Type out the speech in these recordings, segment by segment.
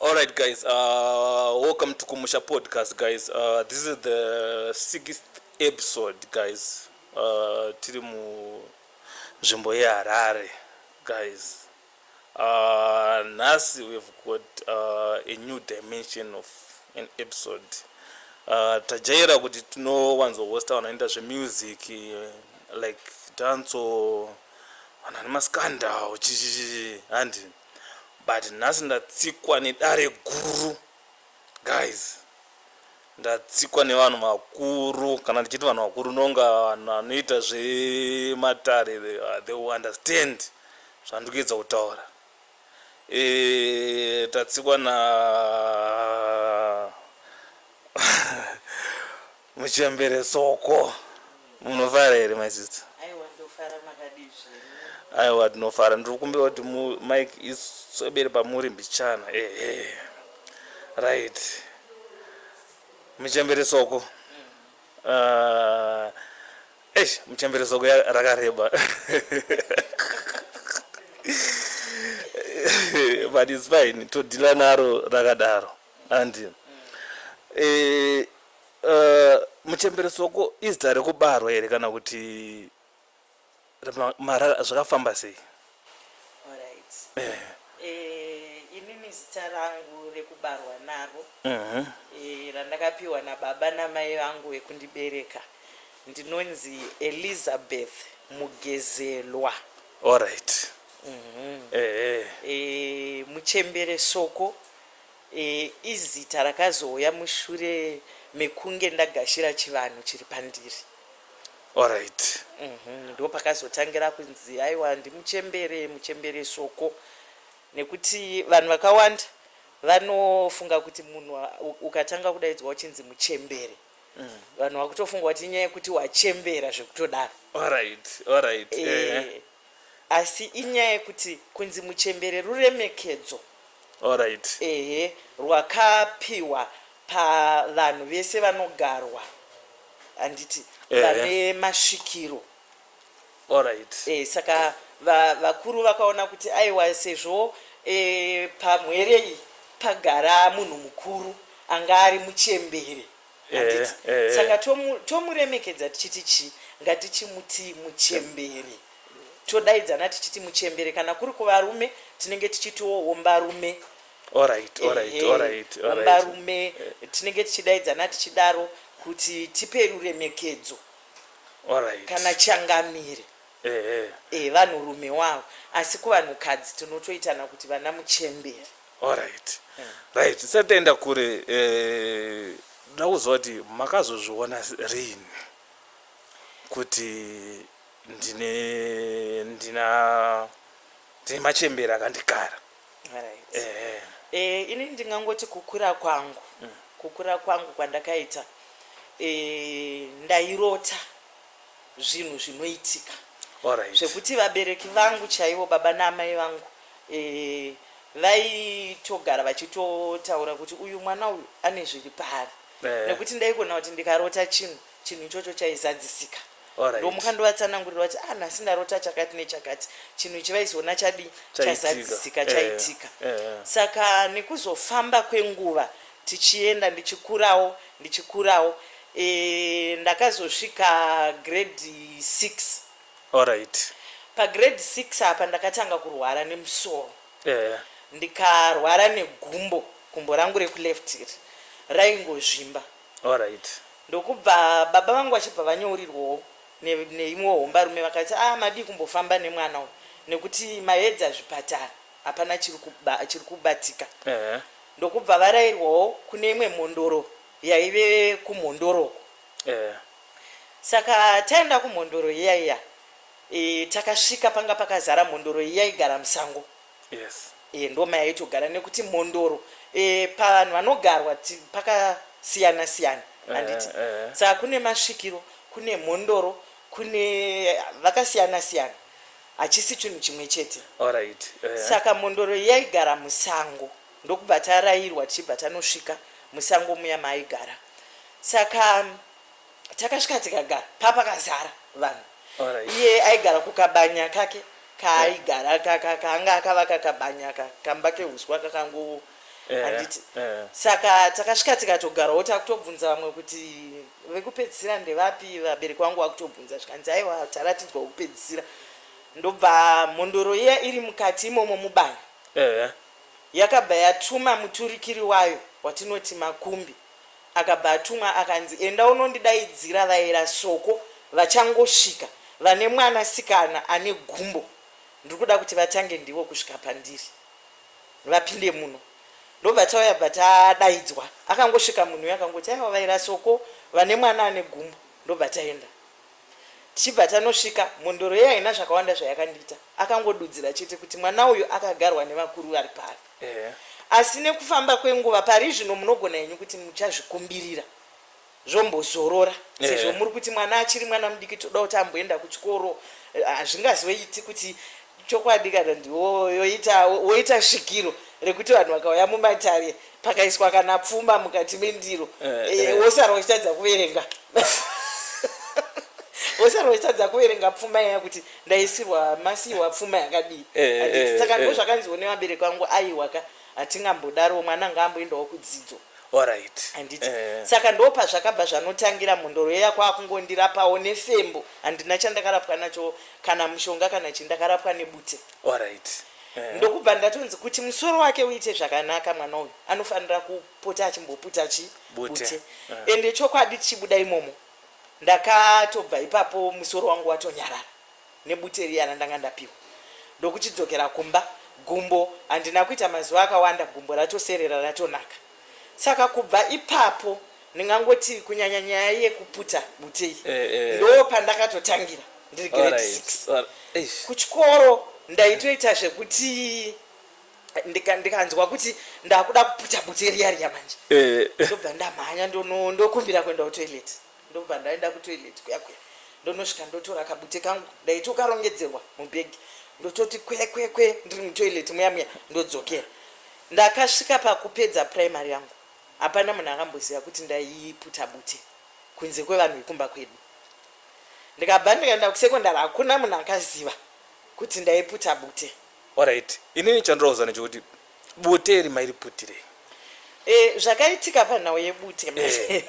All right, guys. Uh, welcome to Kumusha Podcast, guys. Uh, this is the sixth episode, guys. Uh, tiri mu nzvimbo yeHarare, guys. Uh, nhasi we've got uh, a new dimension of an episode. Uh, tajaira kuti tinowanzohosta vanhu vanoita zvemusic like danso vanhu vane maskandal chichichi handi but nhasi ndatsikwa nedare guru guys ndatsikwa nevanhu vakuru kana ndichiti vanhu vakuru nonga vanhu vanoita zvematare uh, they understand zvandiri kuedza kutaura e, tatsikwa na Muchembere soko. Munofara here my sister? Aiwa ndofara makadii zvenyu? Aiwa tinofara. Ndiri kumbira kuti mic isobere pamuri mbichana. Ehe. Right. Muchembere soko. Mm. Uh, eish muchembere soko rakareba. but it's fine todhila naro rakadaro andi mm. eh, Uh, muchembere soko izita rekubarwa here kana kuti marara zvakafamba sei alright eh. Eh, inini zita rangu rekubarwa naro mhm. eh, randakapiwa nababa namai vangu vekundibereka ndinonzi elizabeth mugezelwa alright mhm. muchembere soko Ee izita rakazouya mushure mekunge ndagashira chivanhu chiri pandiri. Alright. Uhmm ndopakazotangira kunzi aiwa ndimuchembere muchembere soko nekuti vanhu vakawanda vanofunga kuti munhu ukatanga kudaidzwa uchinzi muchembere vanhu vakutofunga kuti inyaya yekuti wachembera zvekutodaro. Alright alright eeh. asi inyaya yekuti kunzi muchembere ruremekedzo Alright. ehe rwakapihwa pavanhu vese vanogarwa handiti Ehe. vane masvikiro Alright. Eh, saka va, vakuru vakaona kuti aiwa sezvo eh, pamwere iyi pagara munhu mukuru anga ari muchembere handiti saka tomuremekedza tichiti chii ngatichimutii muchembere todaidzana tichiti muchembere kana kuri kuvarume tinenge tichitiwo wombarume ombarume tinenge tichidaidzana tichidaro kuti tipe ruremekedzo kana changamire evanhurume wavo asi kuvanhukadzi tinotoitana kuti vana muchembere Alright right tisati taenda kure eh, ndoda kuziva kuti makazozviona rini kuti ndine ndina ndine machembere akandikara Alright. ehe Eh, ini ndingangoti kukura kwangu kukura kwangu kwandakaita eh, ndairota zvinhu zvinoitika right. zvekuti vabereki vangu chaivo baba naamai vangu e, vaitogara vachitotaura kuti uyu mwana uyu ane zviri paari yeah. nekuti ndaikona kuti ndikarota chinhu chinhu ichocho chaizadzisika right. ndomuka ndovatsanangurira kuti ah nhasi ndarota chakati nechakati chinhu ichi vaizoona chadii chazadzisika chaitika yeah. yeah. saka nekuzofamba kwenguva tichienda ndichikurawo ndichikurawo eeh ndakazosvika grade six. Alright. Pagrade six apa ndakatanga kurwara nemusoro Ehe. ndikarwara negumbo gumbo rangu rekuleft iri raingozvimba Alright. ndokubva baba vangu vachibva vanyourirwawo ne neimwewo hombarume vakati aah madii kumbofamba nemwana uyu nekuti maedza zvipatara hapana chiri kuba chiri kubatika Ehe. ndokubva varairwawo kune imwe mhondoro yaive kumhondoro uko eh. saka taenda kumhondoro iya iya e, takasvika panga pakazara mhondoro iya igara musango yes. e, ndoma yaitogara nekuti mhondoro e, pavanhu vanogarwa pakasiyana siyana eh, handiti eh, eh. saka kune masvikiro kune mhondoro kune vakasiyana siyana hachisi chinhu chimwe chete Alright. Eh. saka mhondoro yaigara musango ndokubva tarairwa tichibva tanosvika musango muya maaigara saka mm, takasvika tikagara papakazara vanhu Alright. iye aigara kukabanya kake kaaigara ka- ka- kaanga akavaka kabanya ka- kamba kehuswa kakango handiti saka takasvika tikatogarawo takutobvunza vamwe kuti vekupedzisira ndevapi vabereki vangu vakutobvunza zvikanzi aiwa taratidzwa wekupedzisira ndobva mhondoro iya iri mukati imomo mubaya yakabva yatuma muturikiri wayo watinoti makumbi akabva atumwa akanzi enda unondidaidzira vaera soko vachangosvika vane mwana sikana ane gumbo ndiri kuda kuti vatange ndivo kusvika pandiri vapinde muno ndobva tauya bva tadaidzwa akangosvika munhu uyo akangoti aiwa vairasoko vane mwana ane gumbo ndobva taenda tichibva tanosvika mhondoro ye haina zvakawanda zvayakandiita akangodudzira chete kuti mwana uyu akagarwa nevakuru vari pari asi nekufamba kwenguva pari zvino munogona henyu kuti muchazvikumbirira zvombozorora sezvo eh. muri kuti mwana achiri mwana mudiki toda kuti amboenda kuchikoro eh, hazvingazoiti kuti chokwadi kana ndiwoyoita woita svikiro rekuti vanhu vakauya mumatare pakaiswa kana pfuma mukati mendiro eh, wosara uchitadza kuverenga wosara uchitadza kuverenga pfuma iya kuti ndaisirwa masiiwa pfuma yakadii saka ndozvakanziwo nevabereki vangu aiwaka Hatingambodaro mwana ngaamboendawo kudzidzo. Alright. Handiti? Eh. Saka ndopazvakabva zvanotangira mhondoro yeya kwakungondirapawo nefembo. Handina chandakarapwa nacho kana mushonga kana chii ndakarapwa nebute. Alright. Eh. Ndokubva ndatonzi kuti musoro wake uite zvakanaka mwana uyu anofanira kupota achimboputa chi Bute. bute. Eh. Ende chokwadi tichibuda imomo ndakatobva ipapo musoro wangu watonyarara. nebute riya randanga ndapiwa ndokuchidzokera kumba gumbo handina kuita mazuva akawanda gumbo ratoserera ratonaka saka kubva ipapo ndingangoti kunyanya nyaya yekuputa bute iyi eh, eh, eh. ndo pandakatotangira ndiri grade six kuchikoro ndaitoita zvekuti ndikanzwa kuti ndakuda kuputa bute riya riya manje ndobva ndamhanya ndokumbira kuenda kutoilet Ndobva ndaenda kutoilet kuya kuya ndonosvika ndotora kabute kangu ndaitokarongedzerwa mubhegi ndototi kwekwekwe ndiri mutoilet muya muya ndodzokera ndakasvika pakupedza primary yangu hapana munhu akamboziva kuti ndaiputa bute kunze kwevanhu vekumba kwedu ndikabva ndikaenda kusecondary hakuna munhu akaziva kuti ndaiputa bute orit inini chandirauza nechekuti Bute iri mairiputirei? Eh, zvakaitika panhau yebute manje.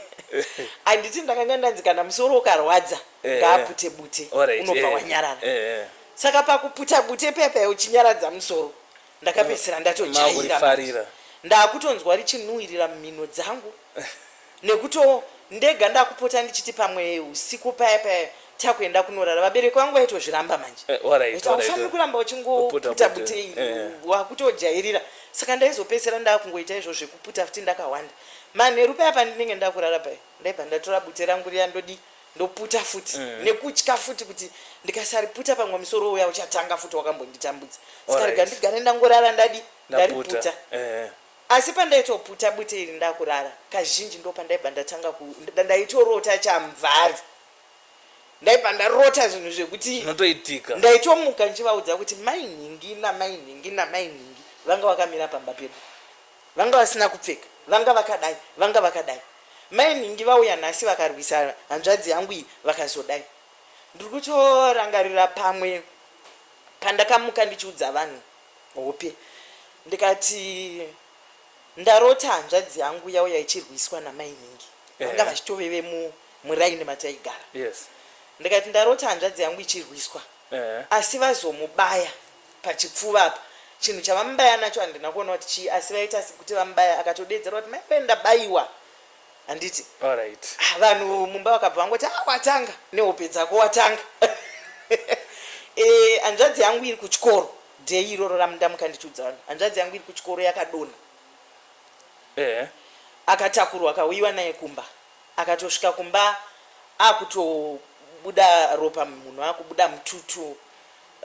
Handiti ndakanga ndanzi kana musoro ukarwadza Eh, ngaapute bute Alright, unobva eh, wanyarara. eh, eh. Saka pakuputa bute paya paya uchinyaradza musoro ndakapedzisira ndatojaira manje. Makurifarira. Ndakutonzwa richinuhwirira mumhino dzangu. Nekuto ndega ndakupota ndichiti pamwe usiku paya paya takuenda kunorara vabereki vangu vaitozviramba manje eh, haufaniri kuramba uchingoputa butei eh, eh. wakutojairira saka ndaizopedzisira ndakungoita izvo zvekuputa futi ndakawanda manheru paya pandinenge ndakurara paya ndaibva ndatora bute rangu riya ndodii ndoputa futi mm. nekutya futi kuti ndikasariputa pamwe musoro uya uchatanga futi wakambonditambudza saka rega ndigare ndangorara ndadi ndariputa eh. Asi pandaitoputa bute iri ndakurara kazhinji ndopandaibva ndatanga ku ndaitorota chamvari ndaibva ndarota zvinhu zvekuti zvinotoitika ndaitomuka ndichivaudza kuti mai nhingi namai nhingi namai nhingi vanga vakamira pamba pedu vanga vasina kupfeka vanga vakadai vanga vakadai mai nhingi vauya nhasi vakarwisa hanzvadzi yangu iyi vakazodai ndiri kutorangarira pamwe pandakamuka ndichiudza vanhu Hope. Ndikati ndarota hanzvadzi yangu yauya ichirwiswa namainhingi vanga vachitove vemuraini mataigara. Yes. Ndikati ndarota hanzvadzi yangu ichirwiswa asi vazomubaya pachipfuva apa chinhu chavamubaya nacho handina kuona kuti chii asi vaita sekuti vamubaya akatodedzerwa kuti maiwee ndabaiwa. handiti Alright. Ah, vanhu mumba vakabva vangoti ah watanga nehope dzako watanga eh, hanzvadzi yangu iri kuchikoro dei iroro ramundamuka ndichiudza vanhu hanzvadzi yangu iri kuchikoro yakadonha Eh. akatakurwa akauyiwa naye kumba akatosvika kumba akutobuda ropa munhu akubuda mututu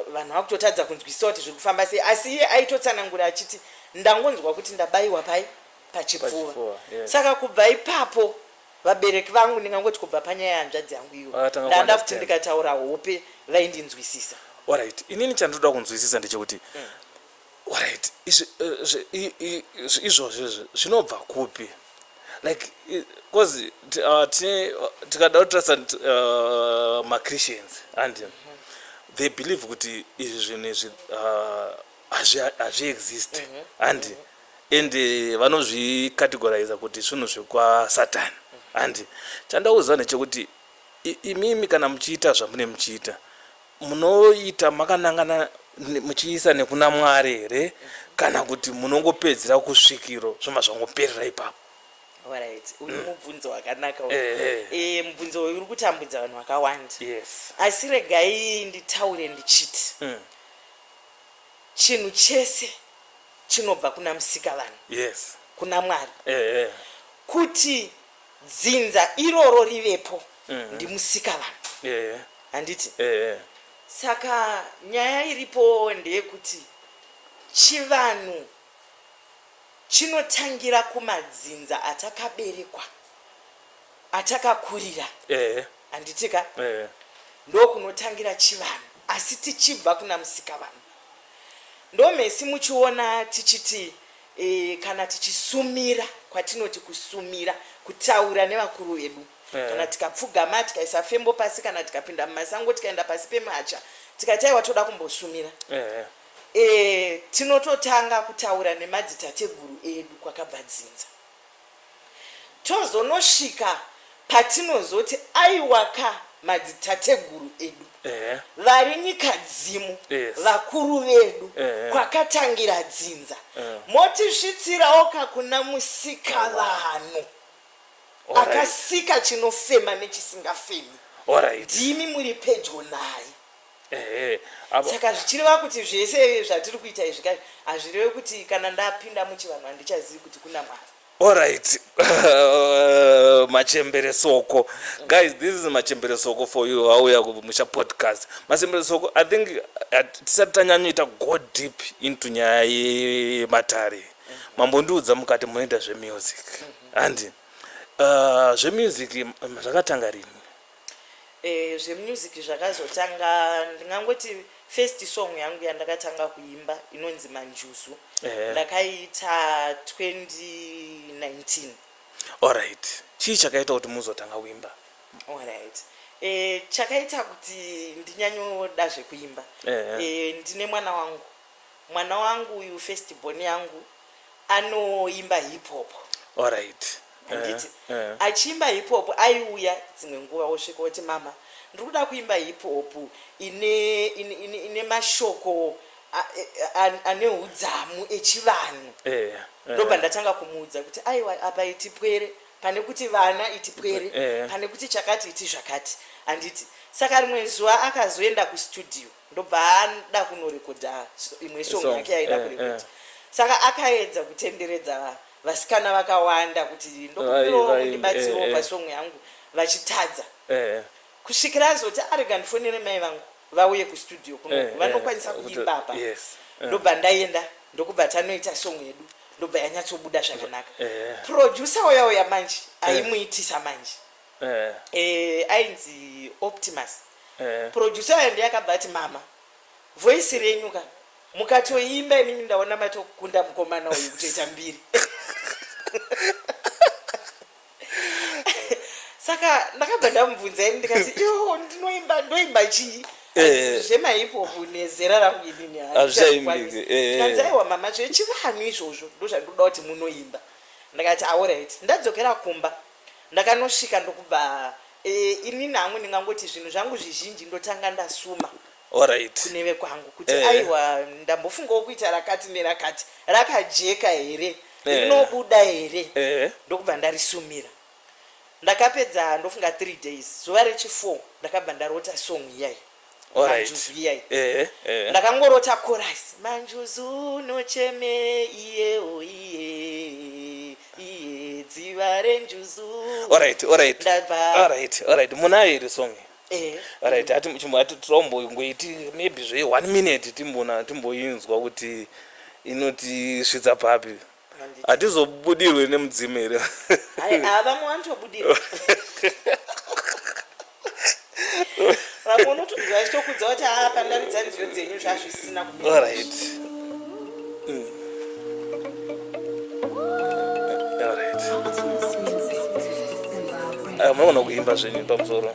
vanhu vakutotadza kunzwisisa kuti zviri kufamba sei asi iye aitotsanangura achiti ndangonzwa kuti ndabayiwa pai pachipfuva saka kubva ipapo vabereki vangu ndingangoti kubva panyaya yanzvadzi yangu iyo ndanda kuti ndikataura hope vaindinzwisisa orit inini chandinoda kunzwisisa ndechekuti mm. orit eh, izvozvo izvi zvinobva kupi like bcause uh, tikada kutrasa uh, machristians andi mm-hmm. they believe kuti izvi zvinhu izvi uh, hazviexist andi mm-hmm. and vanozvicategoriza kuti svunhu zvekwasatan and chandauziva ndechekuti imimi kana muchiita zvamune muchiita munoita makanangana muchiisa nekuna mwari here kana kuti munongopedzera kusvikiro zvoma zvangoperera ipapo Alright. uyu mm. mubvunzo wakanaka eh, eh. eh, mubvunzo uyu uri kutambudza vanhu vakawanda yes. asi regai nditaure ndichiti mm. Chinhu chese chinobva kuna Musikavanhu, Yes. kuna Mwari. Ehe. Kuti dzinza iroro rivepo ndiMusikavanhu, Ehe. handiti? Ehe. Saka nyaya iripo ndeyekuti chivanhu chinotangira kumadzinza atakaberekwa. atakakurira ehe handiti ka ehe ndokunotangira chivanhu asi tichibva kuna musikavanhu ndomesi muchiona tichiti e, kana tichisumira kwatinoti kusumira kutaura nevakuru vedu Eh. kana tikapfugama tikaisa fembo pasi kana tikapinda mumasango tikaenda pasi pemacha tikati aiwa toda kumbosumira ehe e, tinototanga kutaura nemadzitateguru edu kwakabva dzinza Tozonosvika patinozoti aiwaka madzitateguru edu vari nyikadzimu vakuru vedu kwakatangira dzinza motisvitsirawoka kuna musikavanhu akasika chinofema nechisingafemi ndimi muri pedyo naye. saka zvichireva kuti zvese zvatiri kuita izvi kai hazvireve kuti kana ndapinda muchivanhu handichazivi kuti kuna mwari alright machembere soko guys this is machembere soko for you auya kumusha podcast machembere soko i think tisati tanyanyoita go deep into nyaya yematare mambondiudza mukati munoita zvemusic handi uh, zvemusic zvakatanga rini Eh, zvemusic zvakazotanga ndingangoti first song yangu yandakatanga kuimba inonzi manjuzu eh. ndakaiita 2019 allright chii chakaita kuti muzotanga kuimba allright eh, chakaita kuti ndinyanyoda zvekuimba eh, eh. Eh, ndine mwana wangu Mwana wangu uyu first born yangu anoimba hip hop. Alright. Handiti uh, uh. achiimba hip hop aiuya dzimwe nguva wosvika woti mama ndiri kuda kuimba hip hop ine ine, ine, ine mashoko ane udzamu echivanhu eh, eh. ndobva ndatanga kumuudza kuti aiwa apa itipwere pane kuti vana itipwere eh. pane kuti chakati iti zvakati handiti saka rimwe zuva akazoenda kustudio ndobva ada kunorekodha imwe song yake yaida eh, kurekodha eh. saka akaedza kutenderedza vasikana vakawanda kuti ndokuiromundibatsiro eh, pasong yangu vachitadza kusvikira azoti arega ndifonere mai vangu vauye kustudio kuno vanokwanisa kuimba apa ndobva ndaenda ndokubva tanoita song yedu ndobva yanyatsobuda zvakanaka producer uya uya manje aimuitisa manje eh. eh, ainzi optimus eh. producer ayo ndiye akabva ati mama voisi renyu ka mukatoimba imimi ndaona matokunda mukomana uyu kutoita mbiri saka ndakabva ndamubvunza ini ndikati yo ndinoimba ndoimba chii eh. zvemaipopu nezera rangu inini hazvichaimbikeanzaiwa eh. mama zvechivanhu izvozvo ndozvandoda kuti munoimba ndakati aorit ndadzokera kumba Ndakanosvika ndokubva eh, inini hangu ndingangoti zvinhu zvangu zvizhinji ndotanga ndasuma Alright. kune vekwangu kuti Eh. aiwa ndambofungawo kuita rakati nerakati rakajeka here Eh. rinobuda here Eh. ndokubva ndarisumira ndakapedza ndofunga three days zuva rechifour ndakabva ndarota song iyayi manjuzu iyai eh, eh. ndakangorota chorus manjuzu nocheme iyewo iye iye dziva renjuzu alright alright ndabva alright alright munayo iri song eh. alright ati chimbo ati tirombongoiti maybe zve one minute timbona timboinzwa kuti inotisvitsa papi hatizobudirwe nemudzimu here vamwe vanotobudirwa vamwe unotonzwa vachitokudza kuti haa pandaridza nziyo dzenyu zvazvisina kuorit maona kuimba zvenyu pamusoro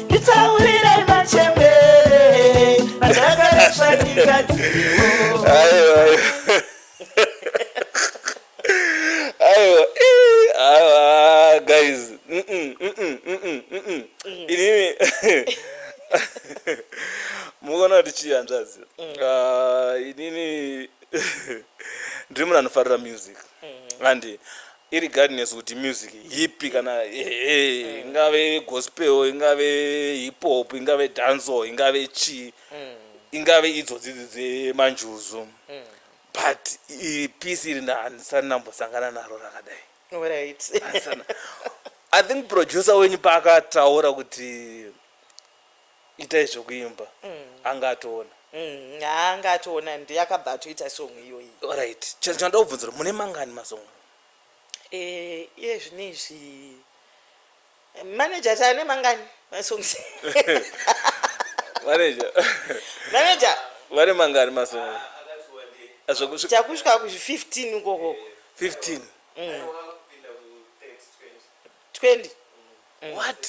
nditsaurirai machembere andakarasva nyika dziwo aiwa aiwa aiwa guys inini mukuona kuti chii hanzvadzi mm. ah, inini ndiri munhu anofarira music mm. handi Irregardless kuti music ipi kana ehe ingave gospel ingave hip hop ingave dancehall ingave chii ingave idzo dzidzi dzemanjuzu but i- peace iri na- handisati ndambosangana naro rakadai Alright. Handisana- i think producer wenyu paakataura kuti itai zvekuimba mm. anga atoona mm, anga atoona ndi akabva atoita song iyoyi orit chinoda kubvunzira mune mangani masong eh, iye zvine izvi manager taane mangani masong manager manager vane mangani masong chakusvika kuzvi 15 ukoko 15 mm. 20 what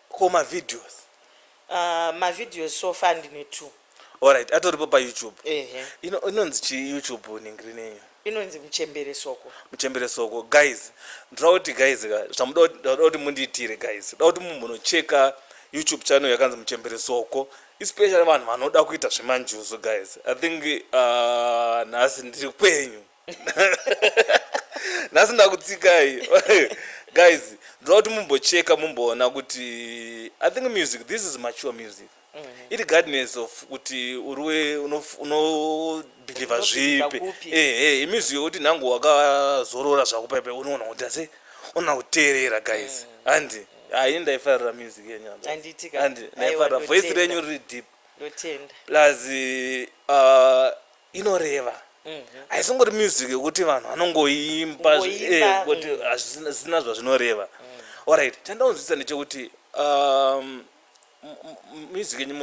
ko mavideos Uh, mavideos so far ndine two alright atoripo payoutube ehe Ino- inonzi chii youtube ningiri neyo inonzi muchembere soko muchembere soko guys ndoda kuti guys ka zvamuda kuti- ndoda kuti mundiitire guys ndoda kuti mumbonocheka youtube channel yakanzi muchembere soko especially vanhu vanoda kuita zvemanjuzu guys i think uh, nhasi ndiri kwenyu nhasi ndakutsikai guys ndoda kuti mumbocheka mumboona kuti i think music this is mature music mm -hmm. it guidness of kuti uriwe unobhilivha zvipi ehe imusic yokuti nhangu wakazorora zvako paipe unoona kuti ase ona kuteerera guys mm. handi haini ndaifarira music yenyu anditi ndaifarira voice renyu riri deep plus uh, inoreva haisingori music yekuti vanhu vanongoimba kuti hazvina zvazvinoreva orit chandaunzwisa ndechekuti um, music yenyu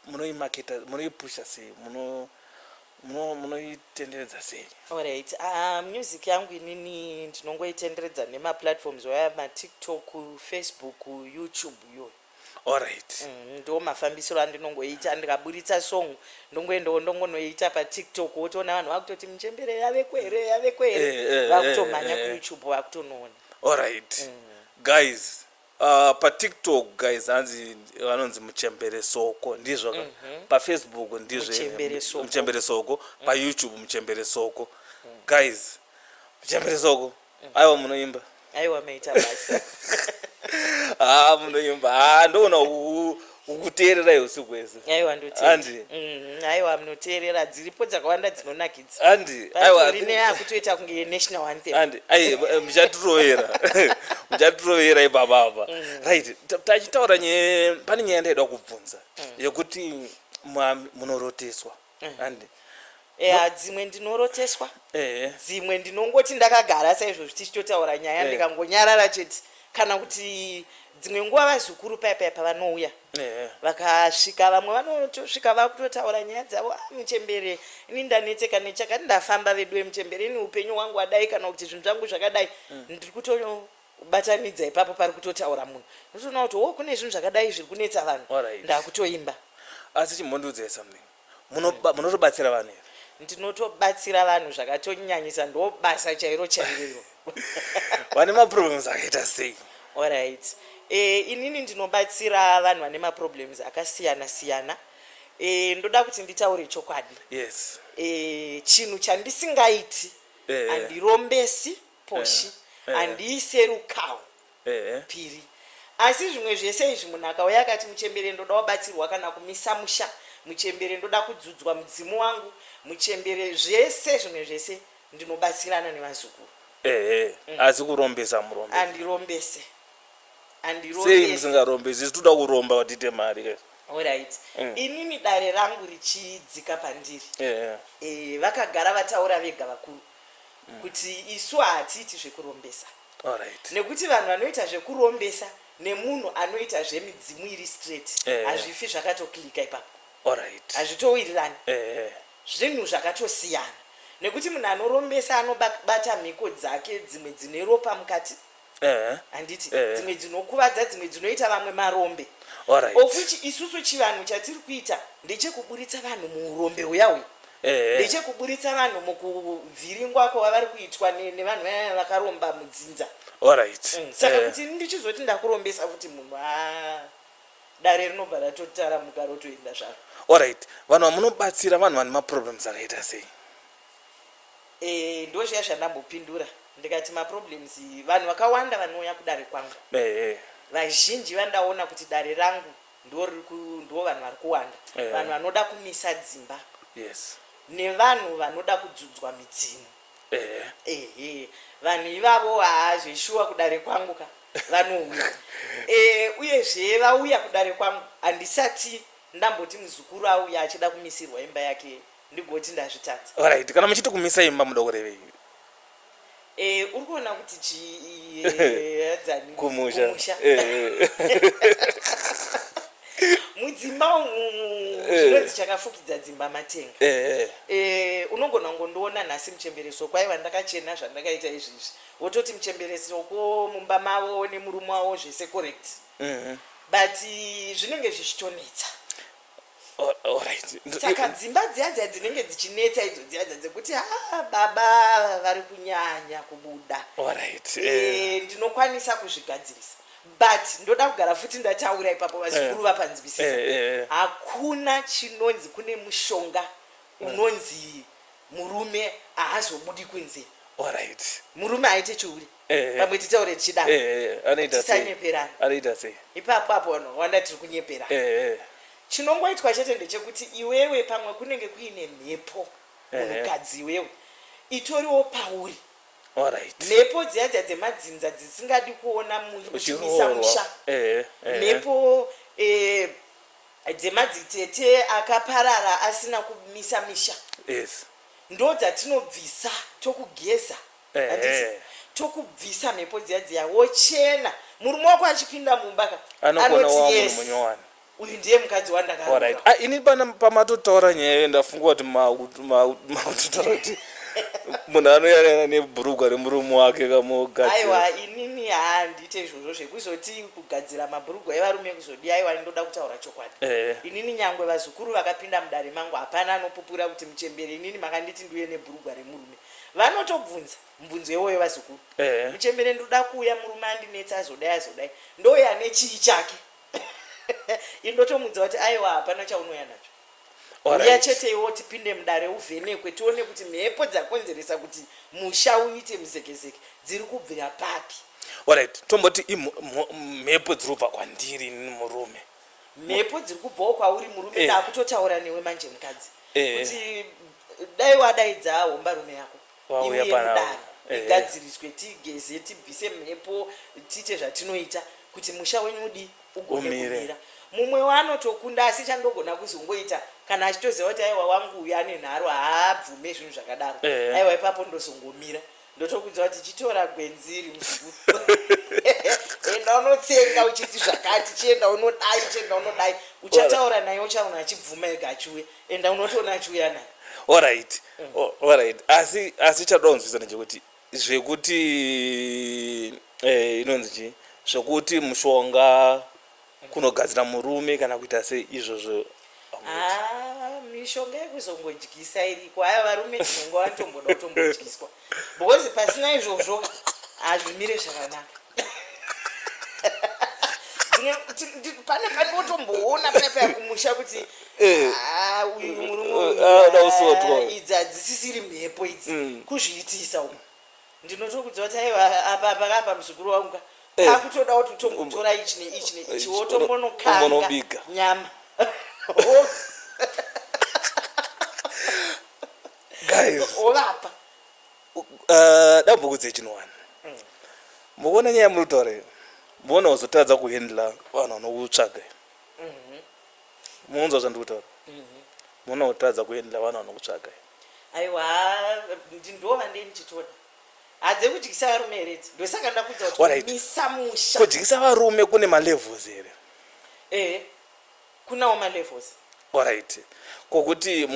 munoimaketa munoipusha sei munoitenderedza sei orit ah, music yangu inini ndinongoitenderedza nemaplatforms waya matiktok facebook youtube iyoyo Alright. Mm, ndo mafambisiro andinongoita ndikaburitsa song ndongoendawo ndongonoita patiktok wotoona vanhu vakutoti muchembere yaveko here yaveko here Eh, eh, eh, vakutomhanya eh. kuyoutube vakutonoona Alright. Mm. Guys, uh, paTikTok guys hanzi vanonzi muchembere soko ndizvo ka? PaFacebook ndizvo Mhm. Muchembere Soko. Mm. muchembere soko, paYouTube muchembere soko. Guys, muchembere soko aiwa munoimba aiwa meita basa haa ah, munoimba haa ah, ndoona ukuteererai usiku hwese aiwa ndoteandi mm, aiwa munoteerera dziripo dzakawanda dzinonakidza andi aiwarine yakutoita kunge yenational anthem andi ai muchatirovera muchatirovera ipapa apa mm. right tachitaura nyaya pane nyaya ndaida kubvunza mm. yekuti munoroteswa and eya dzimwe ndinoroteswa ehe dzimwe ndinongoti ndakagara saizvo zvichichitotaura nyaya Eh. ndikangonyarara chete kana kuti dzimwe nguva vazukuru paya paya pavanouya ehe vakasvika vamwe vanotosvika vakutotaura nyaya dzavo ah, muchembere ini ndanetseka nechakati ndafamba veduwe muchembere ini upenyu hwangu wadai kana kuti zvinhu zvangu zvakadai ndiri kuto kubatanidza ipapo pari kutotaura munhu ndotoona kuti wo kune zvinhu zvakadai zviri kunetsa vanhu Alright. ndakutoimba asi chimbondiudzai something Munoba- munotobatsira vanhu here ndinotobatsira vanhu zvakatonyanyisa ndo basa chairo chairo iro vane maproblems akaita sei Alright. E, inini ndinobatsira vanhu vane maproblems akasiyana siyana. E, ndoda kuti nditaure chokwadi. yes E, chinhu chandisingaiti Eh. handirombesi poshi Eh, eh. handiise rukawo Ehe. piri asi zvimwe zvese izvi munhu akauya akati muchembere ndoda wabatsirwa kana kumisa musha muchembere ndoda kudzudzwa mudzimu wangu muchembere zvese zvimwe zvese ndinobatsirana nevazukuru Ehe. Asi kurombesa murombe. andirombese Sei andirombese musingarombesi? Isu toda kuromba kuti tiite mari. guys. alright Mm. inini dare rangu richidzika pandiri Ehe. Eh, vakagara vataura vega vakuru kuti isu hatiiti zvekurombesa Alright. nekuti vanhu vanoita zvekurombesa nemunhu anoita zvemidzimu iri straight Eh. hazvifi zvakatoklika ipapo Alright. hazvitowirirani Eh. zvinhu zvakatosiyana nekuti munhu anorombesa anobata mhiko dzake dzimwe dzine ropa mukati handiti dzimwe dzinokuvadza dzimwe dzinoita vamwe marombe of which isusu chivanhu chatiri kuita ndechekuburitsa vanhu muurombe huya uyu ndechekuburitsa vanhu mukuvhiringwa kwavavari kuitwa nevanhu vaya vakaromba mudzinza mm, saka kuti ndichizoti ndakurombesa futi munhu a dare rinobva ratotara mugaro toenda zvaro orit vanhu vamunobatsira vanhu vane maproblems akaita sei Eh, ndozviya zvandambopindura ndikati maproblems vanhu vakawanda vanouya kudare kwangu eh, eh. vazhinji vandaona kuti dare rangu ndo vanhu vari kuwanda eh. vanhu vanoda kumisa dzimba yes. nevanhu vanoda kudzudzwa midzimu eh. ehe vanhu ivavo haa zveshuwa kudare kwangu ka vanouya eh, uyezve vauya kudare kwangu handisati ndamboti muzukuru auya achida kumisirwa imba yake ndigoti ndazvitadza alright kana muchiti kumisa imba muda kurevei Eh, uri kuona kuti chii eh, adzani kumusha kumusha Eh, eh. mudzimba umu Eh. zvinonzi chakafukidza dzimba matenga Eh, eh. Eh, unogona kungondiona nhasi muchembereso kwaiva ndakachena zvandakaita izvizvi wototi muchembereso ko mumba mavo nemurume wavo zvese correct Mhm. but eh, zvinenge zvichitonetsa saka dzimba dziya dziya dzinenge dzichinetsa idzo dziya dza dzekuti ha ah, baba vari kunyanya kubuda eh. eh, ndinokwanisa kuzvigadzirisa but ndoda kugara futi ndataura ipapo vazukuru eh. vapanzwisisa hakuna chinonzi kune mushonga unonzi murume ahazobudi kunze murume aite chiuri Eh, pamwe eh. titaure tichida eh, tisanyeperana anoita sei ipapo apo vanhu vakawanda tiri kunyepera chinongoitwa chete ndechekuti iwewe pamwe kunenge kuine mhepo munhukadzi iwewe itoriwo pauri mhepo dziya dziya dzemadzinza dzisingadi kuona muchimisa musha mhepo dzemadzitete akaparara asina kumisa misha ndo dzatinobvisa tokugeza handiti tokubvisa mhepo dziya dziya wochena murume wako achipinda mumba ka anoti yes uyu ndiye mukadzi wandakaorit ah, ini pana pamatotaura nyaya iyo ndafunga kuti makutotaura kuti munhu anoyarana nebhurugwa remurume wake kamogaaiwa inini handiite izvozvo zvekuzoti kugadzira mabhurugwa evarume kuzodii aiwa ndoda kutaura chokwadi eh. inini nyangwe vazukuru vakapinda mudare mangu hapana anopupura kuti muchembere inini makanditi ndiuye nebhurugwa remurume vanotobvunza mbunzo iwoyo vazukuru Ehe. muchembere ndoda kuuya murume andinetsa azodai azodai ndouya ane chii chake ini ndotomudza kuti aiwa hapana chaunouya nacho uya Alright. chete iwo tipinde mudare uvhenekwe tione kuti mhepo dzakonzeresa kuti musha uite muzekezeke dziri kubvira papi Alright, tomboti imho- mho- mhepo dziri kubva kwandiri ini murume. mhepo dziri kubvawo kwauri murume eh. dakutotaura newe manje mukadzi eh. kuti dai wadaidza hombarume yako iuye mudare eh. igadziriswe tigeze tibvise mhepo tiite zvatinoita kuti musha wenyu udi ugone kumira mumwe wanotokunda asi chandogona kuzongoita kana achitoziva kuti aiwa wangu uyu ane nharo haabvume zvinhu zvakadaro aiwa ipapo ndozongomira ndotokuudza kuti chitora gwenzi iri muzukuru enda unotsenga uchiti zvakati chienda unodai chienda unodai uchataura naye uchaona achibvuma ega achiuya enda unotoona achiuya naye orit orit asi asi chatoda kunzwisana chekuti zvekuti eh, inonzi chii zvekuti mushonga kunogadzira murume kana kuita sei izvozvo ah, mishonga yekuzongodyisa iriko haya varume tinonga vatomboda kutombodyiswa because pasina izvozvo hazvimire zvakanaka pane pane wotomboona pane paya kumusha kuti eh. ah, uyu murume eh, ah, idzi hadzisisiri mhepo idzi mm. kuzviitisa umu ndinotokudzwa kuti aiwa apa apa kapa muzukuru wangu ka Eh. kakutoda kuti utongotora ichi neichi neichi Ichi, wotombonokanga umbonobika. nyama Wo- guys wovapa uh, dambuko dzechinowani mukuona nyaya muri kutaura iyo muona wazotadza kuhendla vanhu vanokutsvaga iyo munonzwa zvandiri kutaura muona wotadza kuhendla vanhu vanokutsvaga iyo Aiwa ndindova ndiye ndichitoda hadze kudyisa varume here idzi ndosaka ndakudza kutimisa musha kudyisa varume kune malevels here ehe kunawo malevels orit kokuti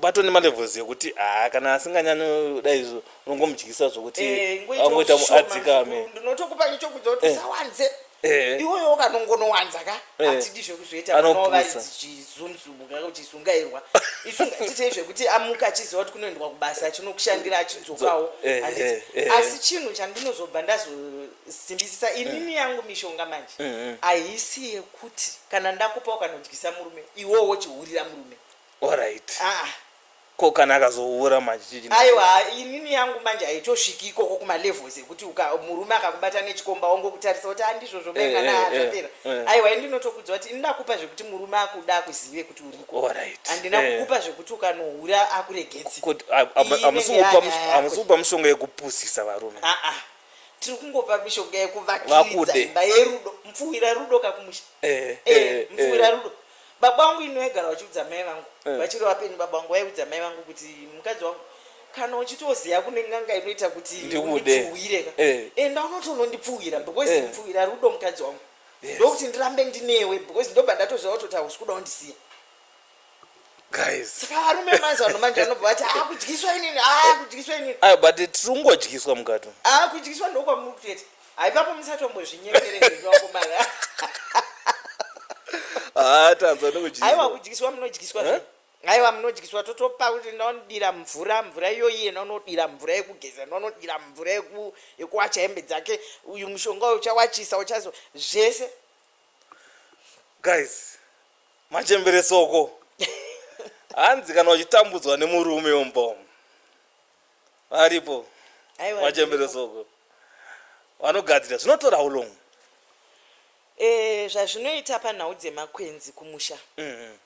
bato nemalevels ekuti haa kana asinganyani dai izvo unongomudyisa zvokuti eh, angoita adzikame ndinotokupa nechokudza kuti eh. usawanze Eh. iwoyo wakanongonowanza ka Eh. hatidi zvekuzoita Anopusa. vanovaichizunzumuka kuti sungairwa isungatitei zvekuti amuka achiziva kuti kunoendwa kubasa achinokushandira achidzokawo Dzo- eh, Handiti? eh, eh. asi chinhu chandinozobva ndazosimbisisa inini yangu mishonga manje Mm, haisi yekuti kana ndakupa ukanodyisa murume iwowo chihurira murume alright Ah, Ko kana akazohura manje chichi. Aiwa inini yangu manje haitosviki ikoko kuma levels ekuti uka murume akakubata nechikomba ongokutarisa kuti andizvozvo Eh, mengana eh, eh, zvapera. eh. Aiwa ini ndinotokuudza kuti ini ndakupa zvekuti murume akuda akuzive kuti uriko. Alright. Handina Eh. kukupa zvekuti ukanohura akuregedzi. Kuti a- a- Iyi hamusi inenge kupa yanyaya mush- yako. hamusi kupa mushonga yekupusisa varume. Ah ah. Tiri kungopa mishonga yekuvakiridza Vakude. imba yerudo. Mupfuwira rudo kakumusha. Eh, Eh, eh, mupfuwira eh. rudo. Baba wangu ini vaigara vachiudza mai vangu Eh. vachiri vapenyu baba wangu vaiudza mai vangu kuti mukadzi wangu kana uchitoziva kune n'anga inoita kuti Ndikude. undipfuhwire ka Eh. enda unotonondipfuhwira because Eh. mupfuhwira rudo mukadzi wangu Yes. ndokuti ndirambe ndinewe because ndobva ndatoziva kuti hausi kuda undisiya guys saka varume mazuva ano manje vanobva vati aa kudyiswa inini aa kudyiswa inini ayo but tiri kungodyiswa mukati umu. aa kudyiswa ndokwamuri kutete Hai papo musatombozvinyepere zvenyu vakomana. Haa tanzwa ndokudyiswa. Haiwa kudyiswa munodyiswa zve. Haiwa munodyiswa totopa kuti ndonodira mvura mvura iyoyi yena unodira mvura yekugeza ndonodira mvura yeku yekuwacha hembe dzake uyu mushonga uyu uchawachisa uchazo zvese. Guys machembere soko. Hanzi kana uchitambudzwa nemurume umbomu. varipo Aiwa, vachembere varipo. soko vanogadzira zvinotora how long Eh, zvazvinoita panhau dzemakwenzi kumusha Mhm.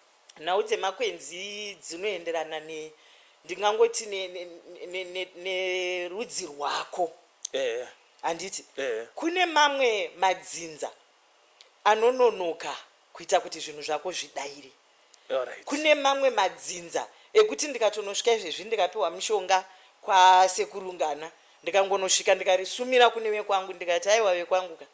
nhau dzemakwenzi dzinoenderana ne ndingangoti ne- ne- ne- ne- nerudzi rwako Eh, handiti Eh. kune mamwe madzinza anononoka kuita kuti zvinhu zvako zvidaire Alright. kune mamwe madzinza ekuti ndikatonosvika izvezvi ndikapiwa mushonga kwasekurungana ndikangonosvika ndikarisumira kune vekwangu ndikati aiwa vekwangu ka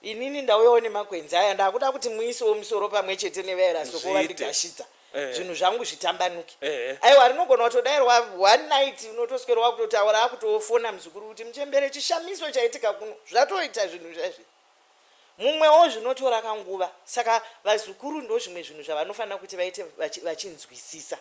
inini ndauyawo nemakwenzi aya ndakuda kuti muisewo musoro pamwe chete nevaera soko Zviite. vandigashidza Eh. zvinhu zvangu zvitambanuke Eh. aiwa rinogona kutodairwa one night unotoswera wakutotaura akutofona muzukuru kuti muchembere chishamiso chaitika kuno zvatoita zvinhu zvaizvi mumwewo zvinotora kanguva saka vazukuru ndo zvimwe zvinhu zvavanofanira kuti vaite vachinzwisisa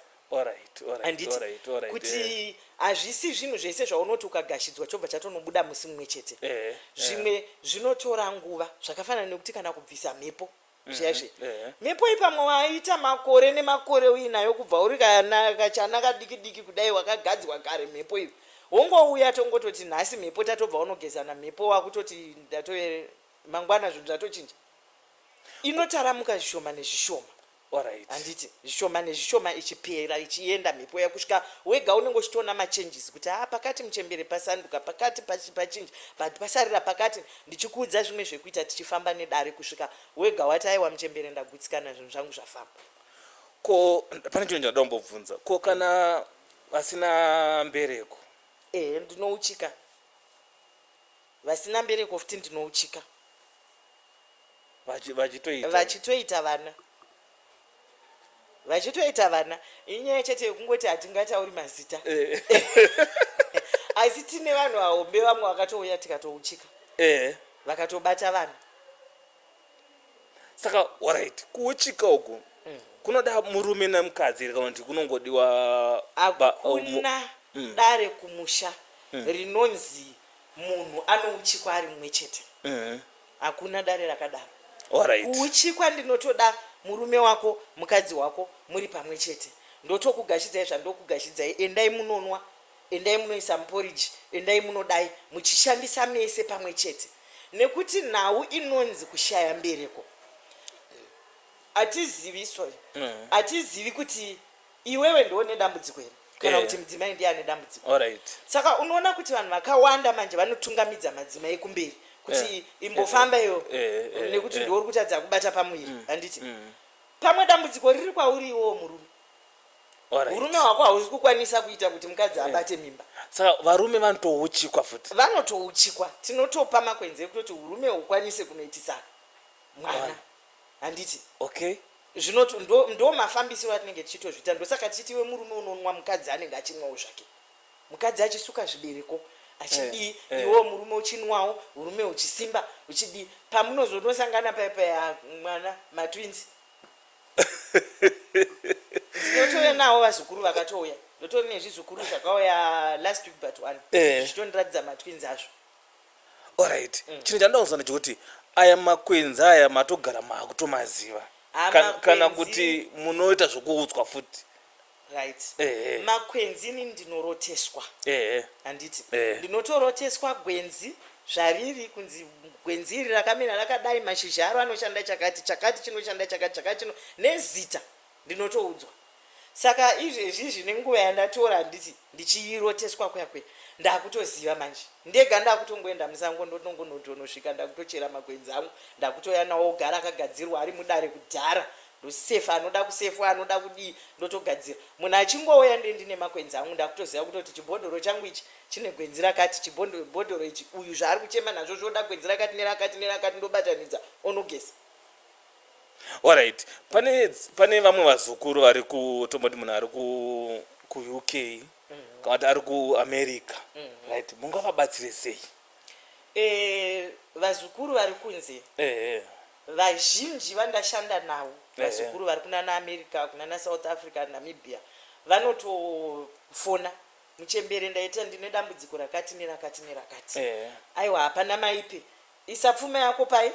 kuti eh. hazvisi zvinhu zvese zvaunoti ukagashidzwa chobva chatonobuda musi mumwe chete eh, eh. zvimwe zvinotora nguva zvakafanana nekuti kana kubvisa mhepo zviyaizvi mhm, eh. mhepo iyi pamwe waita makore nemakore uinayo kubva uri kachana kadiki diki kudai wakagadzwa kare mhepo iyo wongouya tongototi nhasi mhepo tatobva unogezana mhepo wakutoti ndatoe mangwana zvinhu zvatochinja inotaramuka zvishoma nezvishoma orit handiti zvishoma nezvishoma ichipera ichienda mhepo yakusvika wega unenge uchitoona machanges kuti haa pakati muchembere pasanduka pakati pachinja but pasarira pakati ndichikuudza zvimwe zvekuita tichifamba nedare kusvika wega wati aiwa muchembere ndagutsikana zvinhu zvangu zvafamba ko pane chinhu chandida kumbobvunza ko kana vasina mbereko ehe ndinouchika vasina mbereko futi ndinouchika vachitoita vana vachitoita vana inyaya chete yekungoti hatingatauri mazita eh. asi tine vanhu vahombe vamwe vakatouya tikatouchika eh. vakatobata vanhu saka orit kuuchika uku mm. kunoda murume nemukadzi kana kuti kunongodiwa akuna um, mm. dare kumusha mm. rinonzi munhu anouchikwa ari mumwe chete mm. Hakuna dare rakadaro. Alright. Kuuchi kwandinotoda murume wako mukadzi wako muri pamwe chete. Ndotokugashidzai zvandokugashidzai endai munonwa endai munoisa muporiji endai munodai muchishandisa mese pamwe chete nekuti nhau inonzi kushaya mbereko hatizivi sorry mm. hatizivi mm. kuti Iwewe ndiwe une dambudziko here kana kuti mudzimai ndiye ane dambudziko saka unoona kuti vanhu vakawanda manje vanotungamidza madzimai kumberi kuti eh, imbofamba eh, iyo eh, nekuti ndiwo uri kutadza kubata pamuviri mm, handiti mm. pamwe dambudziko riri kwauri iwowo murume urume hwako hausi kukwanisa kuita kuti mukadzi abate mimba saka varume vanotouchikwa futi vanotouchikwa tinotopa makwenzi ekutoti urume ukwanise kunoitisana mwana handiti okay zvino ndo, ndo mafambisiro atinenge tichitozviita ndosaka tichiti iwe murume unonwa mukadzi anenge achinwawo zvake mukadzi achisuka zvibereko achidii eh, eh. iwo murume uchinwawo urume uchisimba uchidii pamunozonosangana paya paya mwana matwins ndotouya nawo vazukuru vakatouya ndotori nezvizukuru zvakauya last week but one eh. zvichitondiratidza matwins azvo Alright. Mm. Chinhu chandinoda kunzwa ndechekuti aya makwenzi aya matogara makutomaziva. Ah, Kana, kana makwenzi- kuti munoita zvekuudzwa futi. right Ehe. makwenzi ini ndinoroteswa Ehe. handiti Eh. ndinotoroteswa gwenzi zvariri kunzi gwenzi iri rakamira rakadai mashizha aro anoshanda chakati chakati chinoshanda chakati chakati chino nezita ndinotoudzwa saka izvezvizvi nenguva yandatora handiti ndichiroteswa kuya kuya ndakutoziva manje ndega ndakutongoenda musango ndotongonotonosvika ndakutochera makwenzi angu ndakutoya nawo ogara akagadzirwa ari mudare kudhara ndosefa anoda kusefwa anoda kudii ndotogadzira munhu achingouya nde ndine makwenzi angu ndakutoziva kutoti chibhodhoro changu ichi chine gwenzi rakati chibhodhoro ichi uyu zvaari kuchema nazvo zvoda gwenzi rakati nerakati nerakati ndobatanidza onogesa Alright, pane pane vamwe vazukuru vari ku tomboti munhu ari ku ku UK mm-hmm. kana kuti ari ku America. Mm-hmm. Right, mungavabatsire sei? Eh, vazukuru vari kunze. Eh. eh. Vazhinji vandashanda navo. Eh, eh. Vazukuru vari kunana America, kunana South Africa, Namibia. Vanotofona. Muchembere ndaita ndine dambudziko rakati nerakati nerakati. Eh. Aiwa hapana maipi. Isa pfuma yako pai?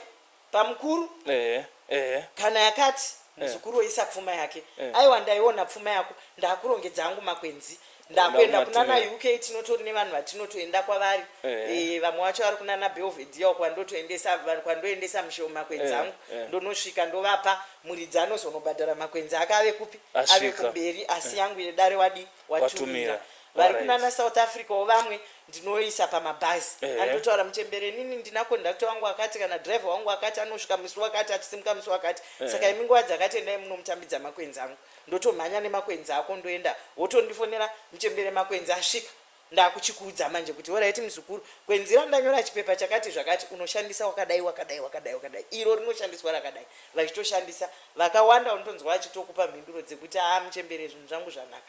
Bamkuru Ehe ehe. kana yakati muzukuru woisa pfuma yake Eh. aiwa ndaiona pfuma yako ndakurongedza angu makwenzi ndakuenda Ndakumatunira. kunana uk tinotori nevanhu vatinotoenda kwavari Eh. Eh, vamwe vacho vari kunana belvedia uko vandotoendesa vanhu kwandoendesa mushewo makwenzi Eh, angu eh. ndonosvika ndovapa muridzi anozonobhadhara makwenzi ake ave kupi ave Asvika. kumberi asi yangu yedare wadi watumira Watumira. vari Alright. kunana south africa wo vamwe ndinoisa pamabhazi Eh. andotaura muchembere inini ndina kondakta wangu akati kana driver wangu akati anosvika musi wakati achisimuka musi wakati Eh. saka imi nguva dzakati endai munomutambidza makwenzi angu ndotomhanya nemakwenzi ako ndoenda wotondifonera muchembere makwenzi asvika ndakuchikuudza manje kuti horaiti muzukuru kwenzi randanyora chipepa chakati zvakati unoshandisa wakadai wakadai wakadai wakadai iro rinoshandiswa rakadai vachitoshandisa vakawanda unotonzwa vachitokupa mhinduro dzekuti aa muchembere zvinhu zvangu zvanaka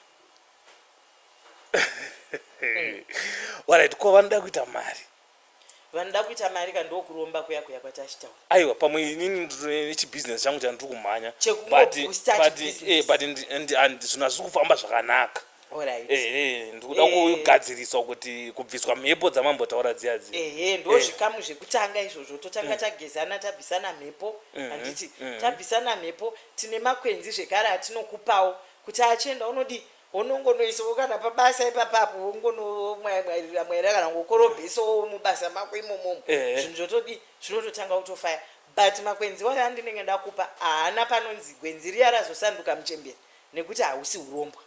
warit ko vanoda kuita mari vanoda kuita mari ka ndokuromba kuya kuya kwatachitaura aiwa pamwe inini nechibusiness changu chandiri kumhanya zvinhu hazviri kufamba zvakanaka ehe ndikuda eh. kugadziriswa kuti kubviswa mhepo dzamambotaura dziya dziya ehe eh. ndozvikamu zvekutanga izvozvo totanga mm. tagezana tabvisana mhepo mm-hmm. handiti mm-hmm. tabvisana mhepo tine makwenzi zvekare atinokupawo kuti achienda unodii Unongonoisawo kana pabasa ipapa apo wongonomwaimwairira mwaira kana ngokorobhesawo mubasa mako imomomo eh. zvinhu zvotodii zvinototanga kutofaya but makwenzi waya andinenge ndakupa haana panonzi gwenzi riya razosanduka muchembere nekuti hausi urombwa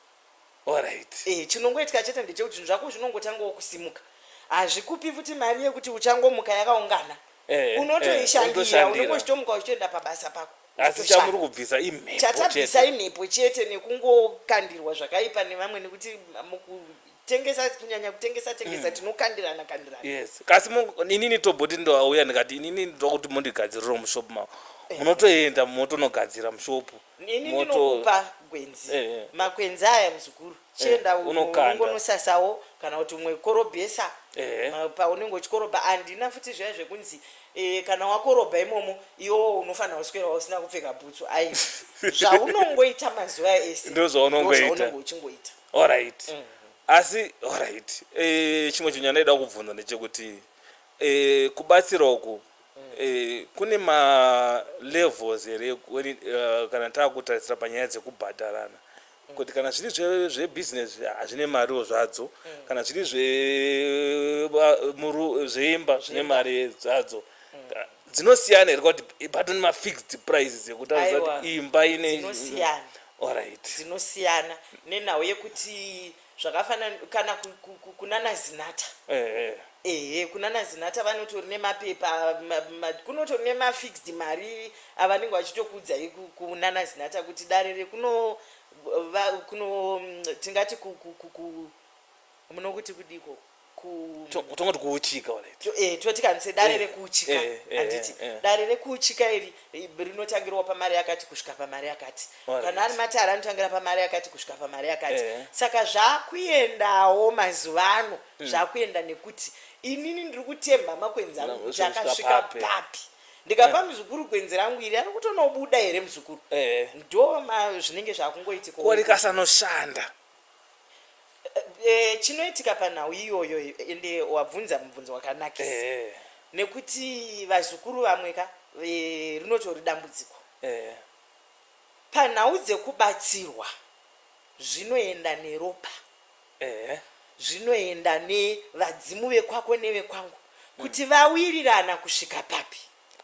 orit e, eh, chinongoitika chete ndechekuti zvinhu zvako zvinongotangawo kusimuka hazvikupi futi mari yekuti uchangomuka yakaungana eh, unotoishandira eh, unongochitomuka uchitoenda pabasa pako asi chamuri kubvisa imhepo chatabvisa imhepo chete nekungokandirwa zvakaipa nevamwe nekuti mukutengesa kunyanya kutengesa tengesa mm. tinokandirana kandirana yes kasi inini toboti ndouya ndikati inini ndoda kuti mondigadziriro mushopu mavo eh. munotoenda motonogadzira mushopu inini ndinokupa gwenzi eh, eh. makwenzi aya muzukuru chienda Eh, unokanda. unongonosasawo kana kuti umwe korobhesa Ehe. ma- paunenge uchikorobha handina futi zviya zvekunzi eh, kana wakorobha imomo iwowo unofanira kuswera usina kupfeka bhutsu ai zvaunongoita mazuva ese Ndizvo zvaunongoita. ndozvaunenge uchingoita alright Mm. asi alright eh, chimwe chinhu chandaida kubvunza ndechekuti eh, kubatsira uku Mm. eh, kune malevels here when it- eh, kana taakutarisira panyaya dzekubhadharana kuti kana zviri zvebusiness hazvine mariwo zvadzo mm. kana zviri zveimba zvine mari zvadzo mm. dzinosiyana here kuti patone mafixed prices ekutaridza kuti imba ine dzinosiyana nenhau yekuti zvakafanana kana ku- ku- ku- kunana zinata ehe ehe kunana zinata vanotori nemapepa ma- ma- kunotori nemafixed mari avanenge vachitokuudzai ku- kunana zinata kuti dare rekuno va- kuno mm, tingati ku- ku- ku- ku- munokuti kudiko tongoti kuuchika eh, toti kanise dare eh, rekuuchika eh, handiti dare rekuuchika iri rinotangirwa pamari yakati kusvika pamari yakati kana ari matare anotangira pamari yakati kusvika pamari yakati saka zvakuendawo mazuva ano hmm. zvakuenda nekuti inini ndiri kutemba makwenzi angu kuti akasvika papi ndikapa muzukuru gwenzi rangu iri ari kutonobuda here muzukuru ndo zvinenge zvakungoitikaorikasanoshanda Eh, chinoitika panhau iyoyo ende wabvunza mubvunzo wakanakisa ehe nekuti vazukuru vamwe ka eh, rinotori dambudziko ehe panhau dzekubatsirwa zvinoenda neropa ehe zvinoenda nevadzimu vekwako nevekwangu kuti vawirirana kusvika papi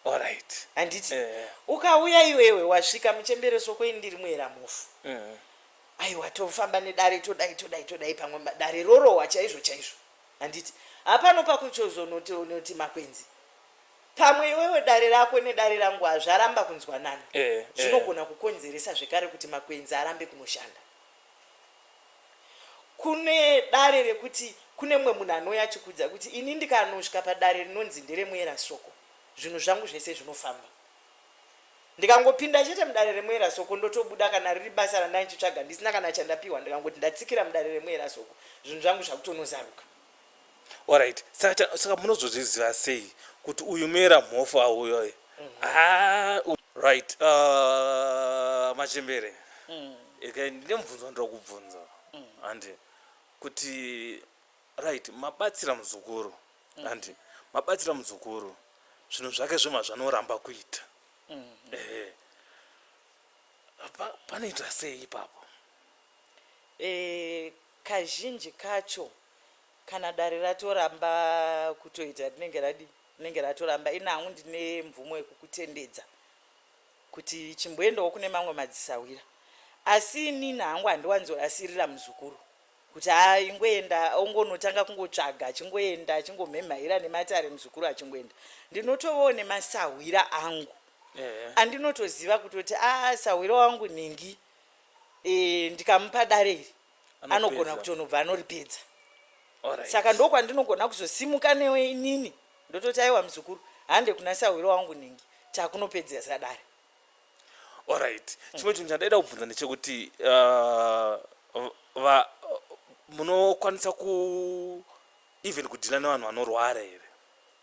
alright handiti Eh. ukauya iwewe wasvika muchembere soko ini ndiri muera mufu Mhm. aiwa tofamba nedare todai todai todai pamwe dare rorohwa chaizvo chaizvo handiti hapano pakuchozonoti makwenzi pamwe iwewe dare rako nedare rangu hazvaramba kunzwanana eh, eh. zvinogona kukonzeresa zvekare kuti makwenzi arambe kunoshanda kune dare rekuti kune mumwe munhu anouya achikudza kuti ini ndikanosvika padare rinonzi nderemuera soko zvinhu zvangu zvese zvinofamba ndikangopinda chete mudare remwera soko ndotobuda kana riri basa randai ndichitsvaga ndisina kana chandapiwa ndikangoti ndatsikira mudare remwera soko zvinhu zvangu zvakutonozaruka orit saka saka munozozviziva sei kuti uyu mera mhofu auyoye mhm. ah, right uh, machembere mm. ndine mubvunzo ndira kubvunza mm. handi kuti Right, mabatsira muzukuru mm. and mabatsira muzukuru zvinhu zvake zvema zvanoramba kuita mm. eh. panoita sei ipapo eh, kazhinji kacho kana dare ratoramba kutoita rinenge radi rinenge ratoramba ini hangu ndine mvumo yekukutendedza kuti chimboendawo kune mamwe madzisahwira asi inini hangu handiwanzoasirira muzukuru kuti aingoenda ongonotanga kungotsvaga achingoenda achingomhemhaira nematare muzukuru achingoenda ndinotovawo nemasahwira angu eh. andinotoziva yeah. kutoti a ah, sahwira wangu nhingi e, ndikamupa dare iri anogona kutonobva anoripedza right. saka ndokwandinogona kuzosimuka newe inini ndototi aiwa muzukuru hande kuna sahwira wangu nhingi takunopedzesa dare Alright. Chimwe chinhu chandaida kubvunza ndechekuti uh, va munokwanisa ku even kudhila nevanhu vanorwara here?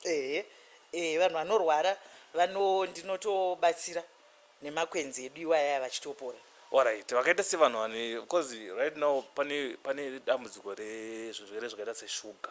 Ehe. Eh, vanhu vanorwara vano ndinotobatsira nemakwenzi edu iwaya vachitopora. Alright. Vakaita sevanhu vane because right now pane pane dambudziko rezvirwere zvakaita seshuga.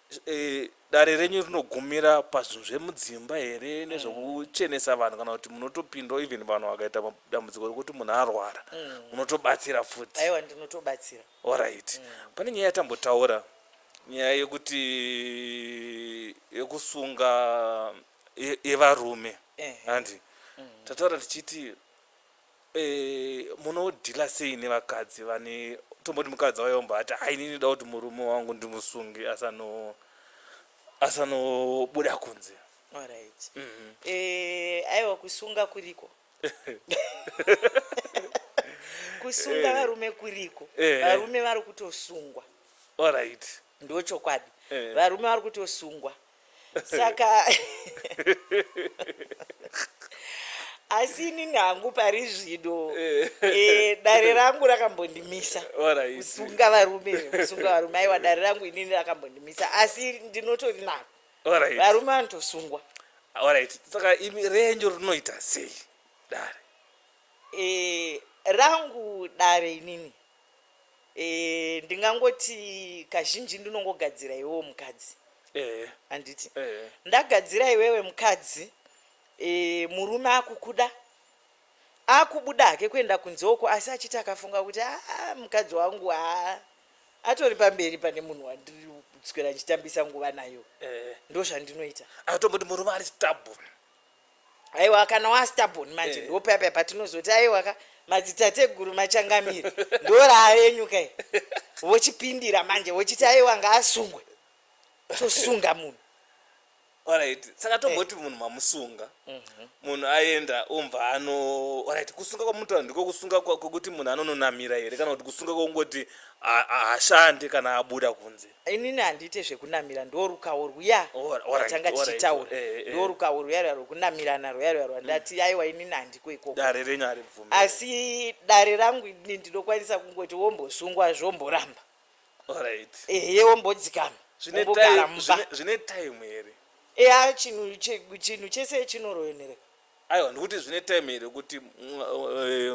Eh, dare renyu rinogumira pazvinhu zvemudzimba here mm. nezvekuchenesa vanhu kana kuti munotopindawo even vanhu vakaita dambudziko rekuti munhu arwara mm. munotobatsira futi aiwa ndinotobatsira orit mm. pane nyaya yatambotaura nyaya yekuti yekusunga yevarume handi tataura tichiti Eh, munodhila sei nevakadzi vane tomboti mukadzi auya omba ati hai ini ndoda kuti murume wangu ndimusunge asano asanobuda kunze Alright. Eh, aiwa kusunga kuriko. kusunga varume kuriko. Eh. Varume vari kutosungwa. alright Ndochokwadi. Eh. Varume vari kutosungwa. saka asi inini hangu pari zvino eh. eh, dare rangu rakambondimisa kusunga varume kusunga varume aiwa dare rangu inini rakambondimisa asi ndinotori naro varume vanotosungwa orit saka imi renyu rinoita sei dare eh, rangu dare inini Eh, ndingangoti kazhinji ndinongogadzira iwewe mukadzi ehe handiti ehe ndagadzira iwewe mukadzi eh, murume akukuda akubuda hake kuenda kunze uko asi achiti akafunga kuti aa mukadzi wangu haa atori pamberi pane munhu wandiri kuswera ndichitambisa nguva nayo ehe ndo zvandinoita atomboti murume ari stubborn aiwa kana wastabon manje eh. ndopaya paya patinozoti aiwa ka madzitateguru machangamire ndoravenyuka i vochipindira manje vochiti aiwa ngaasungwe tosunga munhu orit saka tomboti eh. munhu mamusunga mhm. munhu aenda omva ano orit kusunga kwamutaura ndiko kusunga kwekuti munhu anononamira here kana kuti kusunga kwekungoti hashande kana abuda kunze Inini handiite zvekunamira ndorukawo rwuya rwatanga tichitaura eh, eh, eh. ndorukawo rwuya rwuya rwekunamirana rwuya rwuya rwa ndati mm. aiwa inini handiko ikoko asi dare rangu ini ndinokwanisa kungoti wombosungwa zvomboramba ehe wombodzikama wombogara mumba zvine time here eya chinhu chinhu chese chinoroyonereka Aiwa ndikuti zvine time here kuti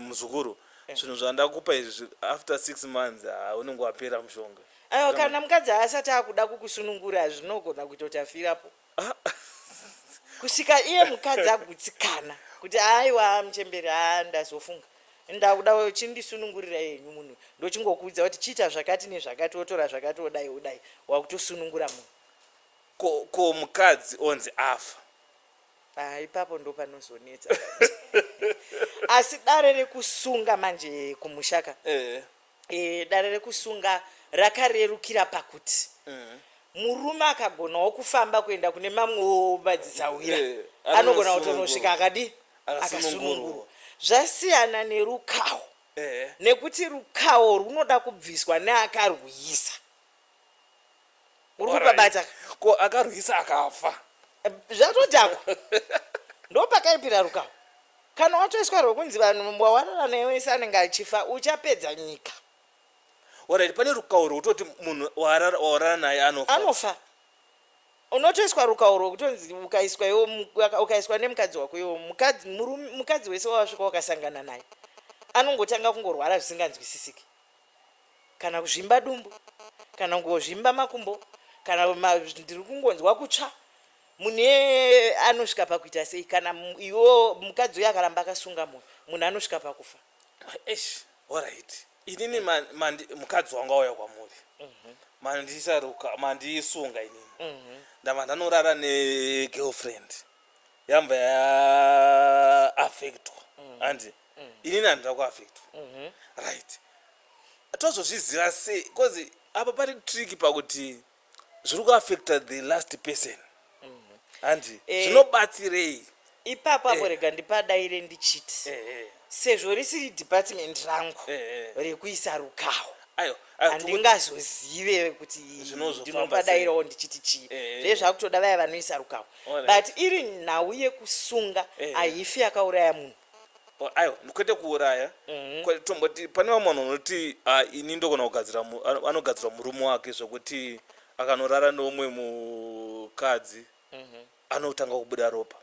muzukuru zvinhu zvandakupa izvi after six months ah, unenge wapera mushonga Aiwa kana mukadzi haasati akuda kukusunungura zvinogona kuita kuti afirapo. Ah. Kusvika iye mukadzi agutsikana kuti aiwa muchembere haa ndazofunga ndakuda uchindisunungurira yenyu munhu ndochingokuudza kuti chiita zvakati nezvakati wotora zvakati wodai wodai wakutosunungura munhu ko ko mukadzi onzi afa Ah, ipapo ndo panozonetsa asi dare rekusunga manje kumushaka eh. eh, dare rekusunga rakarerukira pakuti eh. murume akagonawo kufamba kuenda kune mamwewo madzisahwira eh, anogona kutonosvika akadi akasunungurwa zvasiyana nerukawo eh. nekuti rukawo runoda kubviswa neakarwuyisa uri kupabata ko akarwisa akafa eh, zvatodhakwa ndopakaipira rukawo kana watoiswa rwekunzi vanhu mwawarara newese anenge achifa uchapedza nyika orit pane rukawo rwekutoti munhu wawarara naye anofa anofa unotoiswa rukawo rwekutonzi ukaiswa iwo ukaiswa nemukadzi wako iwo mukadzi wese wawasvika wakasangana naye anongotanga kungorwara zvisinganzwisisiki kana kuzvimba dumbu kana kungozvimba makumbo kana ndiri kungonzwa kutsva mune anosvika pakuita sei kana iwo mukadzi uyo akaramba akasunga mwoyo munhu anosvika pakufa esh orit inini mukadzi wangu auya kwamuri mhm. mandisaruka mandisunga inini mhm. ndava ndanorara negirlfriend yambva yaaffectwa mm. andi mm -hmm. mm. inini handida kuafectwa mhm. right tozozviziva sei bcause apa pari trick pakuti zviri kuafecta the last person mhm. handi eh. zvinobatsirei ipapo apo eh. rega ndipadaire ndichiti eh, sezvo risiri department rangu rekuisa rukawo handingazozive kuti ndinopadairawo ndichiti chii eh, eh, eh. zvezvakutoda vaya vanoisa rukawo but iri nhau yekusunga ahifi yakauraya munhu Oh, aiwa kwete kuuraya Mhm. Kwete tomboti pane vamwe vanhu vanoti "Ah, ini ndogona kugadzira mu- ano- anogadzirwa murume wake zvekuti akanorara neumwe mukadzi Mhm. anotanga kubuda ropa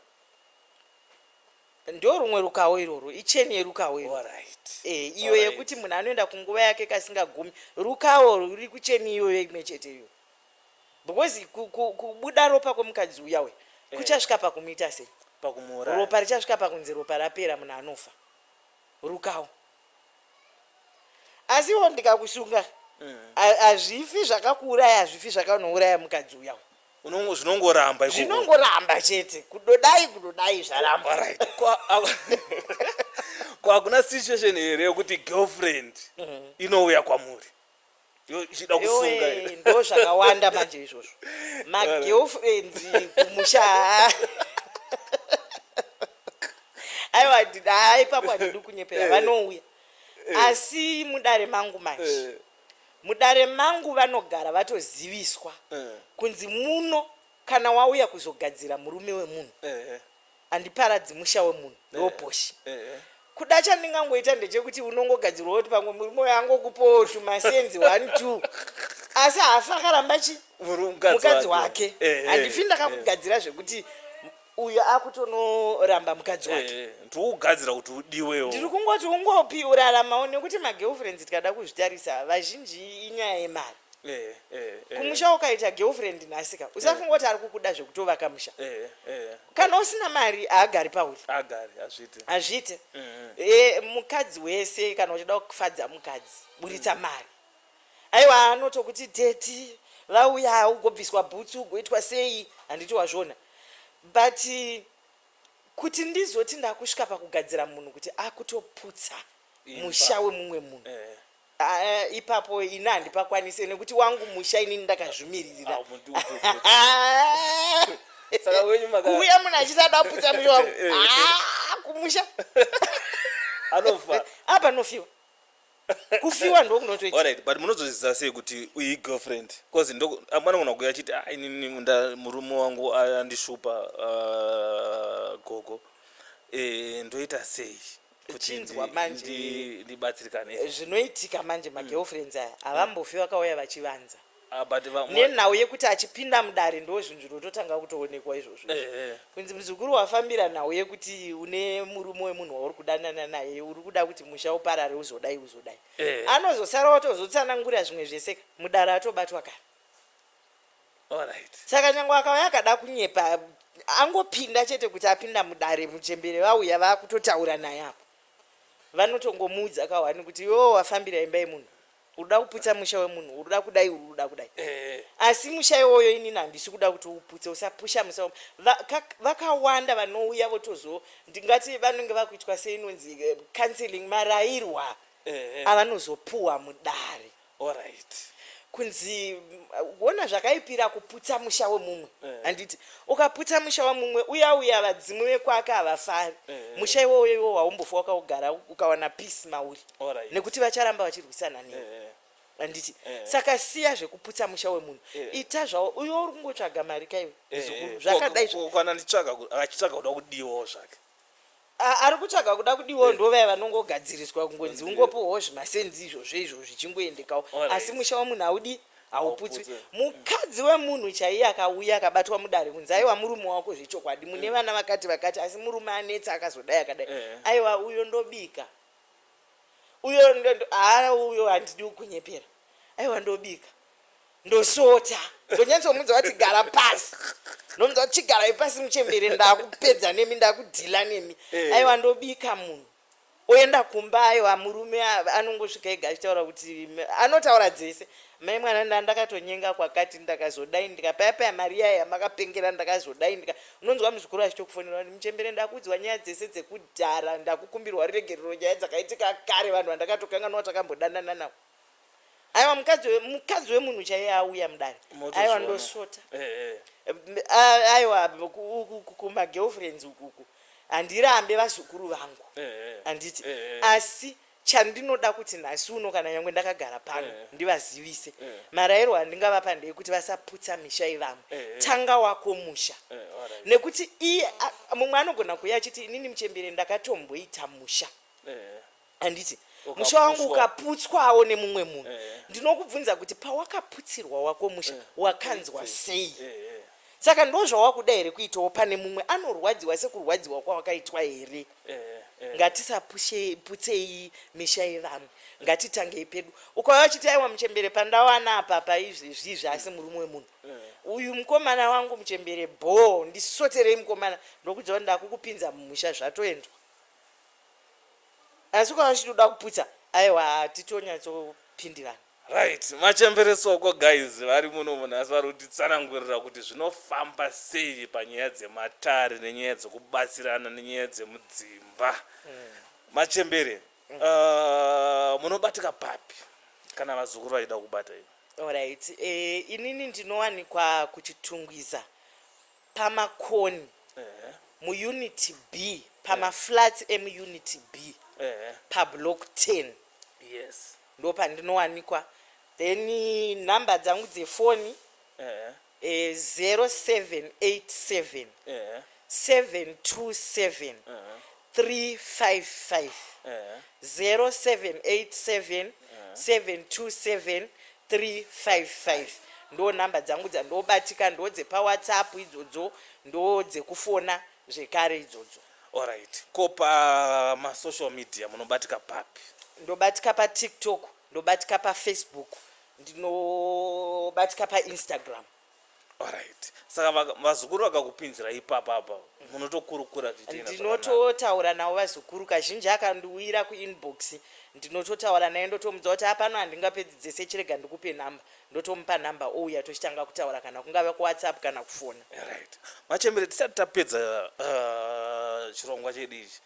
ndo rumwe rukawo iroro icheni yerukawo iroro Alright. Eh, iyo Alright. yekuti munhu anoenda kunguva yake kasingagumi rukawo ruri kucheni iyoyo imwe chete iyo because kubuda ropa kwemukadzi uya uya eh. kuchasvika pakumuita sei pakumuuraya ropa richasvika pakunzi ropa rapera munhu anofa rukawo asiwo ndikakusunga mm. hazvifi zvakakuuraya hazvifi zvakanouraya mukadzi uya uya zvinongoramba zvinongoramba chete kudodai kudodai zvaramba kwakuna situation here yekuti girlfriend mhm. inouya kwamuri zvichida kusunga iri. ndo zvakawanda manje izvozvo magirlfriends kumusha haa. aiwa ndida haa ipapo handidi kunyepera vanouya asi mudare mangu manje mudare mangu vanogara vatoziviswa kunzi muno kana wauya kuzogadzira murume wemunhu Ehe. handiparadzi musha wemunhu Eh, ndoposhi eh, eh. kuda chandingangoita ndechekuti unongogadzirwa kuti pamwe murume uyo angokupawo tumasenzi one two asi haafi akaramba chi Muru- mukadzi mukadzi wake. wake Eh, eh, handifi eh. ndakakugadzira zvekuti uyo akutonoramba mukadzi wake Eh, ndokugadzira kuti udiwewo ndiri kungoti ungopi uraramawo nekuti magirlfriends tikada kuzvitarisa vazhinji inyaya yemari Eh, eh, eh. kumusha wakaita girlfriend nhasi ka usafunga kuti ari kukuda zvekutovaka musha Eh, eh. kana usina mari haagari pauri agari hazviti hazviite e, mukadzi wese kana uchida kufadza mukadzi buritsa mari aiwa anotokuti teti vauya ugobviswa bhutsu ugoitwa sei handiti wazvona but eh, kuti ndizoti ndakusvika pakugadzira munhu kuti akutoputsa Imba. musha wemumwe munhu Eh, Ah, ipapo ini handipakwanise nekuti wangu musha inini ndakazvimiririra Ah, muti upi upi upi. Saka wenyu maka- kuuya munhu achisada kuputsa musha wangu Eh, eh, eh. Ah, kumusha Anofa. apa nofiwa kufiwa ndokunotoita Alright, but munozozviziva sei kuti uyi girlfriend cause ndoko amwe anogona kuuya achiti "Ah, inini nda- murume wangu andishupa ah, gogo Eh, ndoita sei uchinzwa manje ndibatsirikane eh, zvinoitika manje mm. magirlfriends aya havambofi vakauya vachivanza ah, nenhau yekuti achipinda mudare ndo zvinhu zvinototanga kutoonekwa izvozvo eh, eh. kunzi muzukuru wafambira nhau yekuti une murume wemunhu wauri kudanana naye uri kuda kuti musha uparare uzodai uzodai anozosara watozotsanangura zvimwe zveseka mudare atobatwa kana saka nyange akauya akada kunyepa angopinda chete kuti apinda mudare muchembere vauya vakutotaura naye apo vanotongomuudza kahwani kuti iwewo wafambira imba yemunhu uruda kuputsa musha wemunhu uruda kudai uruda kudai eh. asi musha iwoyo inini handisi kuda kuti uputse usapusha musa vakawanda vanouya votozo ndingati vanenge vakuitwa seinonzi eh, counseling marairwa eh, avanozopuwa mudare Horait kunzi wona zvakaipira kuputsa musha wemumwe eh. handiti eh. ukaputsa musha wemumwe uya uya vadzimu vekwake havafari eh, eh. musha iwoyo iwo waumbofa wakaugara ukawana peace mauri right. nekuti vacharamba vachirwisana newe eh, eh. handiti eh, eh. saka siya zvekuputsa musha wemunhu eh, eh. ita zvawo uyo uri kungotsvaga mari kaiwe eh, eh. zvakadai zvokwana nditsvaga achitsvaga kuda kudiwawo zvake A- ari kutsvaga kuda kudiwawo ndo vaya vanongogadziriswa kungonzi ungopuhwawo zvimasenzi izvozvo izvo zvichingoendekawo Alright. asi musha wemunhu haudi hauputswi Hauputswi. mukadzi wemunhu chaiye akauya akabatwa mudare kunzi aiwa murume wako zvechokwadi mune vana vakati vakati asi murume anetsa akazodai akadai Eh. aiwa uyo ndobika uyo ndo- ndo- haa uyo handidi kukunyepera aiwa ndobika ndosota ndonyatsomudza vati gara pasi ndomudza kuti chigarai pasi muchembere ndakupedza nemi ndakudhila nemi eh. aiwa ndobika munhu oenda kumba aiwa murume anongosvika ega achitaura kuti anotaura dzese mai mwana nda ndakatonyenga kwakati ndakazodai ndikapayapaya mari yaya yamakapengera ndakazodai ndika unonzwa muzukuru achitokufonera kuti muchembere ndakuudzwa nyaya dzese dzekudhara ndakukumbirwa ruregerero nyaya dzakaitika kare vanhu vandakatokanganwa takambodanana navo aiwa mukadzi we- mukadzi wemunhu chaiye auya mudare aiwa Motozviona. ndosvota Eh, eh. M- a- aiwa ku- uku- uku kumagirlfriends ukuku handirambe vazukuru vangu Eh, eh. handiti Eh, eh. asi chandinoda kuti nhasi uno kana nyangwe ndakagara pano Eh. ndivazivise Eh. marairo andingavapa ndeyekuti vasaputsa misha yevamwe Eh, eh. tanga wako musha Eh, alright. nekuti iye a- mumwe anogona kuuya achiti inini muchembere ndakatomboita musha Eh, eh. handiti musha wangu ukaputswawo nemumwe munhu eh, eh. ndinokubvunza kuti pawakaputsirwa wako musha eh, wakanzwa sei saka ndo zvawakuda here kuitawo pane mumwe anorwadziwa sekurwadziwa kwawakaitwa here ngatisaputsei misha yevamwe ngatitangei pedu ukauya uchiti aiwa muchembere pandawana apa paizvezvi izvi asi murume wemunhu uyu mukomana wangu muchembere bhoo ndisoterei mukomana ndokuti ndakuku pinza mumusha zvatoendwa asi ukanga uchitoda kuputsa aiwa titonyatso-pindirana Right, machembere soko guys vari muno munhu asi vari kutitsanangurira kuti zvinofamba sei panyaya dzematare nenyaya dzekubatsirana nenyaya dzemudzimba. Machembere, uh, munobatika papi kana vazukuru vachida kubata ivo? Alright, eh, inini ndinowanikwa kuChitungwiza pamakoni Ehe. muUnit B pamaflats emuUnit B Ehe. pablock 10 Yes. ndo pandinowanikwa then eh, number dzangu dzefoni Ehe. eh, 0787 Ehe. 727 3550787727355 ndo number dzangu dzandobatika ndodze pa whatsapp idzodzo ndodze kufona zvekare idzodzo Alright. Ko pa ma social media munobatika papi? Ndobatika pa TikTok, ndobatika pa Facebook, ndinobatika pa Instagram. Alright. Saka vaka- vazukuru vakakupinzira ipapa apa munotokurukura zvichiita nyatso zvakanaka. ndinototaura navo vazukuru kazhinji akandiuyira kuinbox ndinototaura naye ndotomudza kuti apano handingapedzi dzese chirega ndikupe number ndotomupa number ouya tochitanga kutaura kana kungava kuwhatsapp kana kufona Alright. Machembere tisati tapedza uh, chirongwa chedu ichi.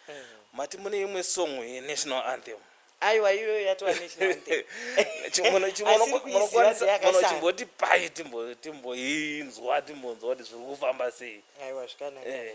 Mati mune imwe song yeNational Anthem. aiwa iyoyo yatova national anthem chimbonochimboti pai timboinzwa timbonzwa kuti zviri kufamba sei aiwa zvikanaka eh.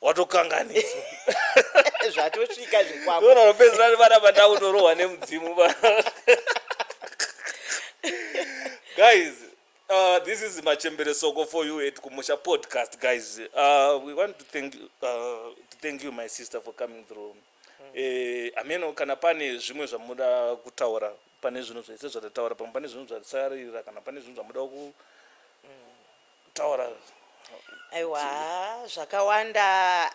watokanganisa zvatosvika zvikwako ona unopedzera ari vana vandakutorohwa nemudzimu va guys uh, this is machembere soko for you at kumusha podcast guys uh, we want to thank, you, uh, to thank you my sister for coming through hmm. eh, ameno kana pane zvimwe zvamuda kutaura pane zvinhu zvese zvatataura pamwe pane zvinhu zvatisarira kana pane zvinhu zvamuda ku kutaura aiwa haa zvakawanda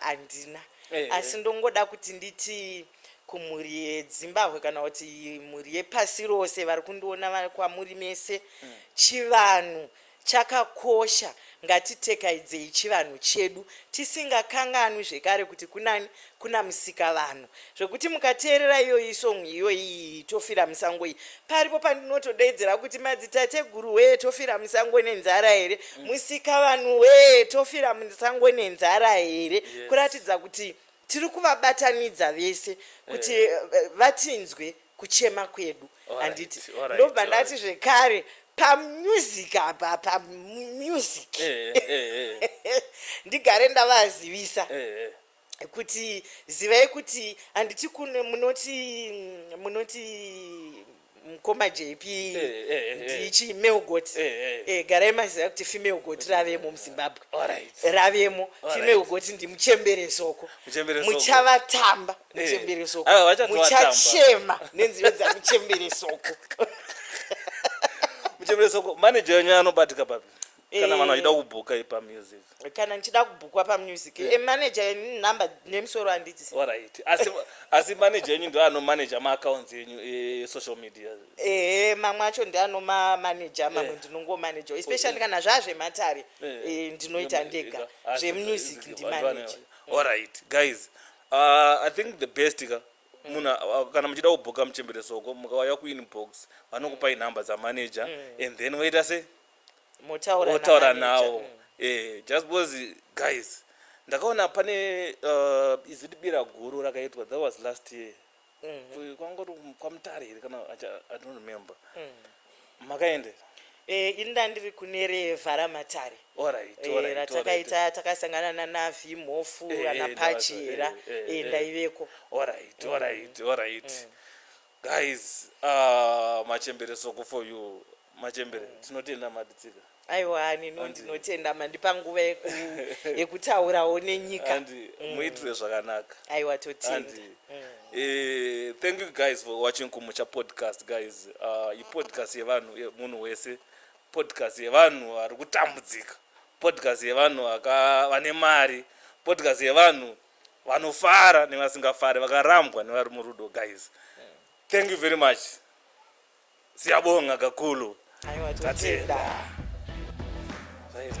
handina Eh. asi ndongoda kuti nditi kumhuri yedzimbahwe kana kuti mhuri yepasi rose vari kundiona vari kwamuri mese Mm. chivanhu chakakosha ngatitekaidzei chivanhu chedu tisingakanganwi zvekare kuti kunani Kuna musika vanhu zvekuti mukateerera iyoyi song iyoyi tofira musango iyi paripo pandinotodeedzera kuti madzitateguru wee tofira musango nenzara here mm. musika vanhu wee tofira musango nenzara here yes. kuratidza kuti tiri kuvabatanidza vese kuti eh. Eh, vatinzwe yeah. kuchema kwedu handiti right, right, ndobva ndati right. zvekare pamusic apa pamusic eh, eh, eh, eh. ndigare ndavazivisa eh, eh. kuti zivai kuti handiti kuno munoti munoti mukoma jp eh, eh, eh, ndichi male goat garai maziva kuti female goat ravemo muzimbabwe ravemo female goat ndimuchembere soko muchavatamba muchembere soko muchachema nenziyo dzamuchembere soko muchembere soko manager yenyu anobatika papi kana vanhu vachida kubhuka ipa music kana ndichida kubhukwa pamusic yeah. manager yenyu number nemusoro handiti orit asi, asi manager yenyu ndo anomanaja maaccounts enyu esocial media ehe mamwe acho ndi anomamanaja mamwe yeah. ndinongomanaja especially kana yeah. zvazvematare yeah. e, ndinoita ndega zvemusic ndimanaja orit guys uh, i think the best ka munhu uh, kana muchida kubhuka muchembere soko mukauya kuinbox vanokupai number dzamanager mm. and then woita sei motaura nawo eh, just because guys ndakaona pane uh, iziti bira guru rakaitwa that was last year mm. kwangori kwamutare here kana i don't remember mm. makaendera Eh, ini ndandiri kune revharamatare eh, ratakaita takasangana nana vimhofu eh, ana pachera ndaiveko mm. guys uh, machembere soko for you machembere mm. tinotenda maditsika aiwa hani no ndinotenda mandipa nguva yekutaurawo nenyika mm. muitire zvakanaka aiwa totenda mm. eh, thank you guys for watching kumucha podcast guys uh, ipodcast yevanhu munhu wese podcast yevanhu vari kutambudzika podcast yevanhu vane mari podcast yevanhu vanofara nevasingafari vakarambwa nevari murudo guys thank you very much siyabonga kakulu Aiwa, totenda. Tatenda. Zvaita.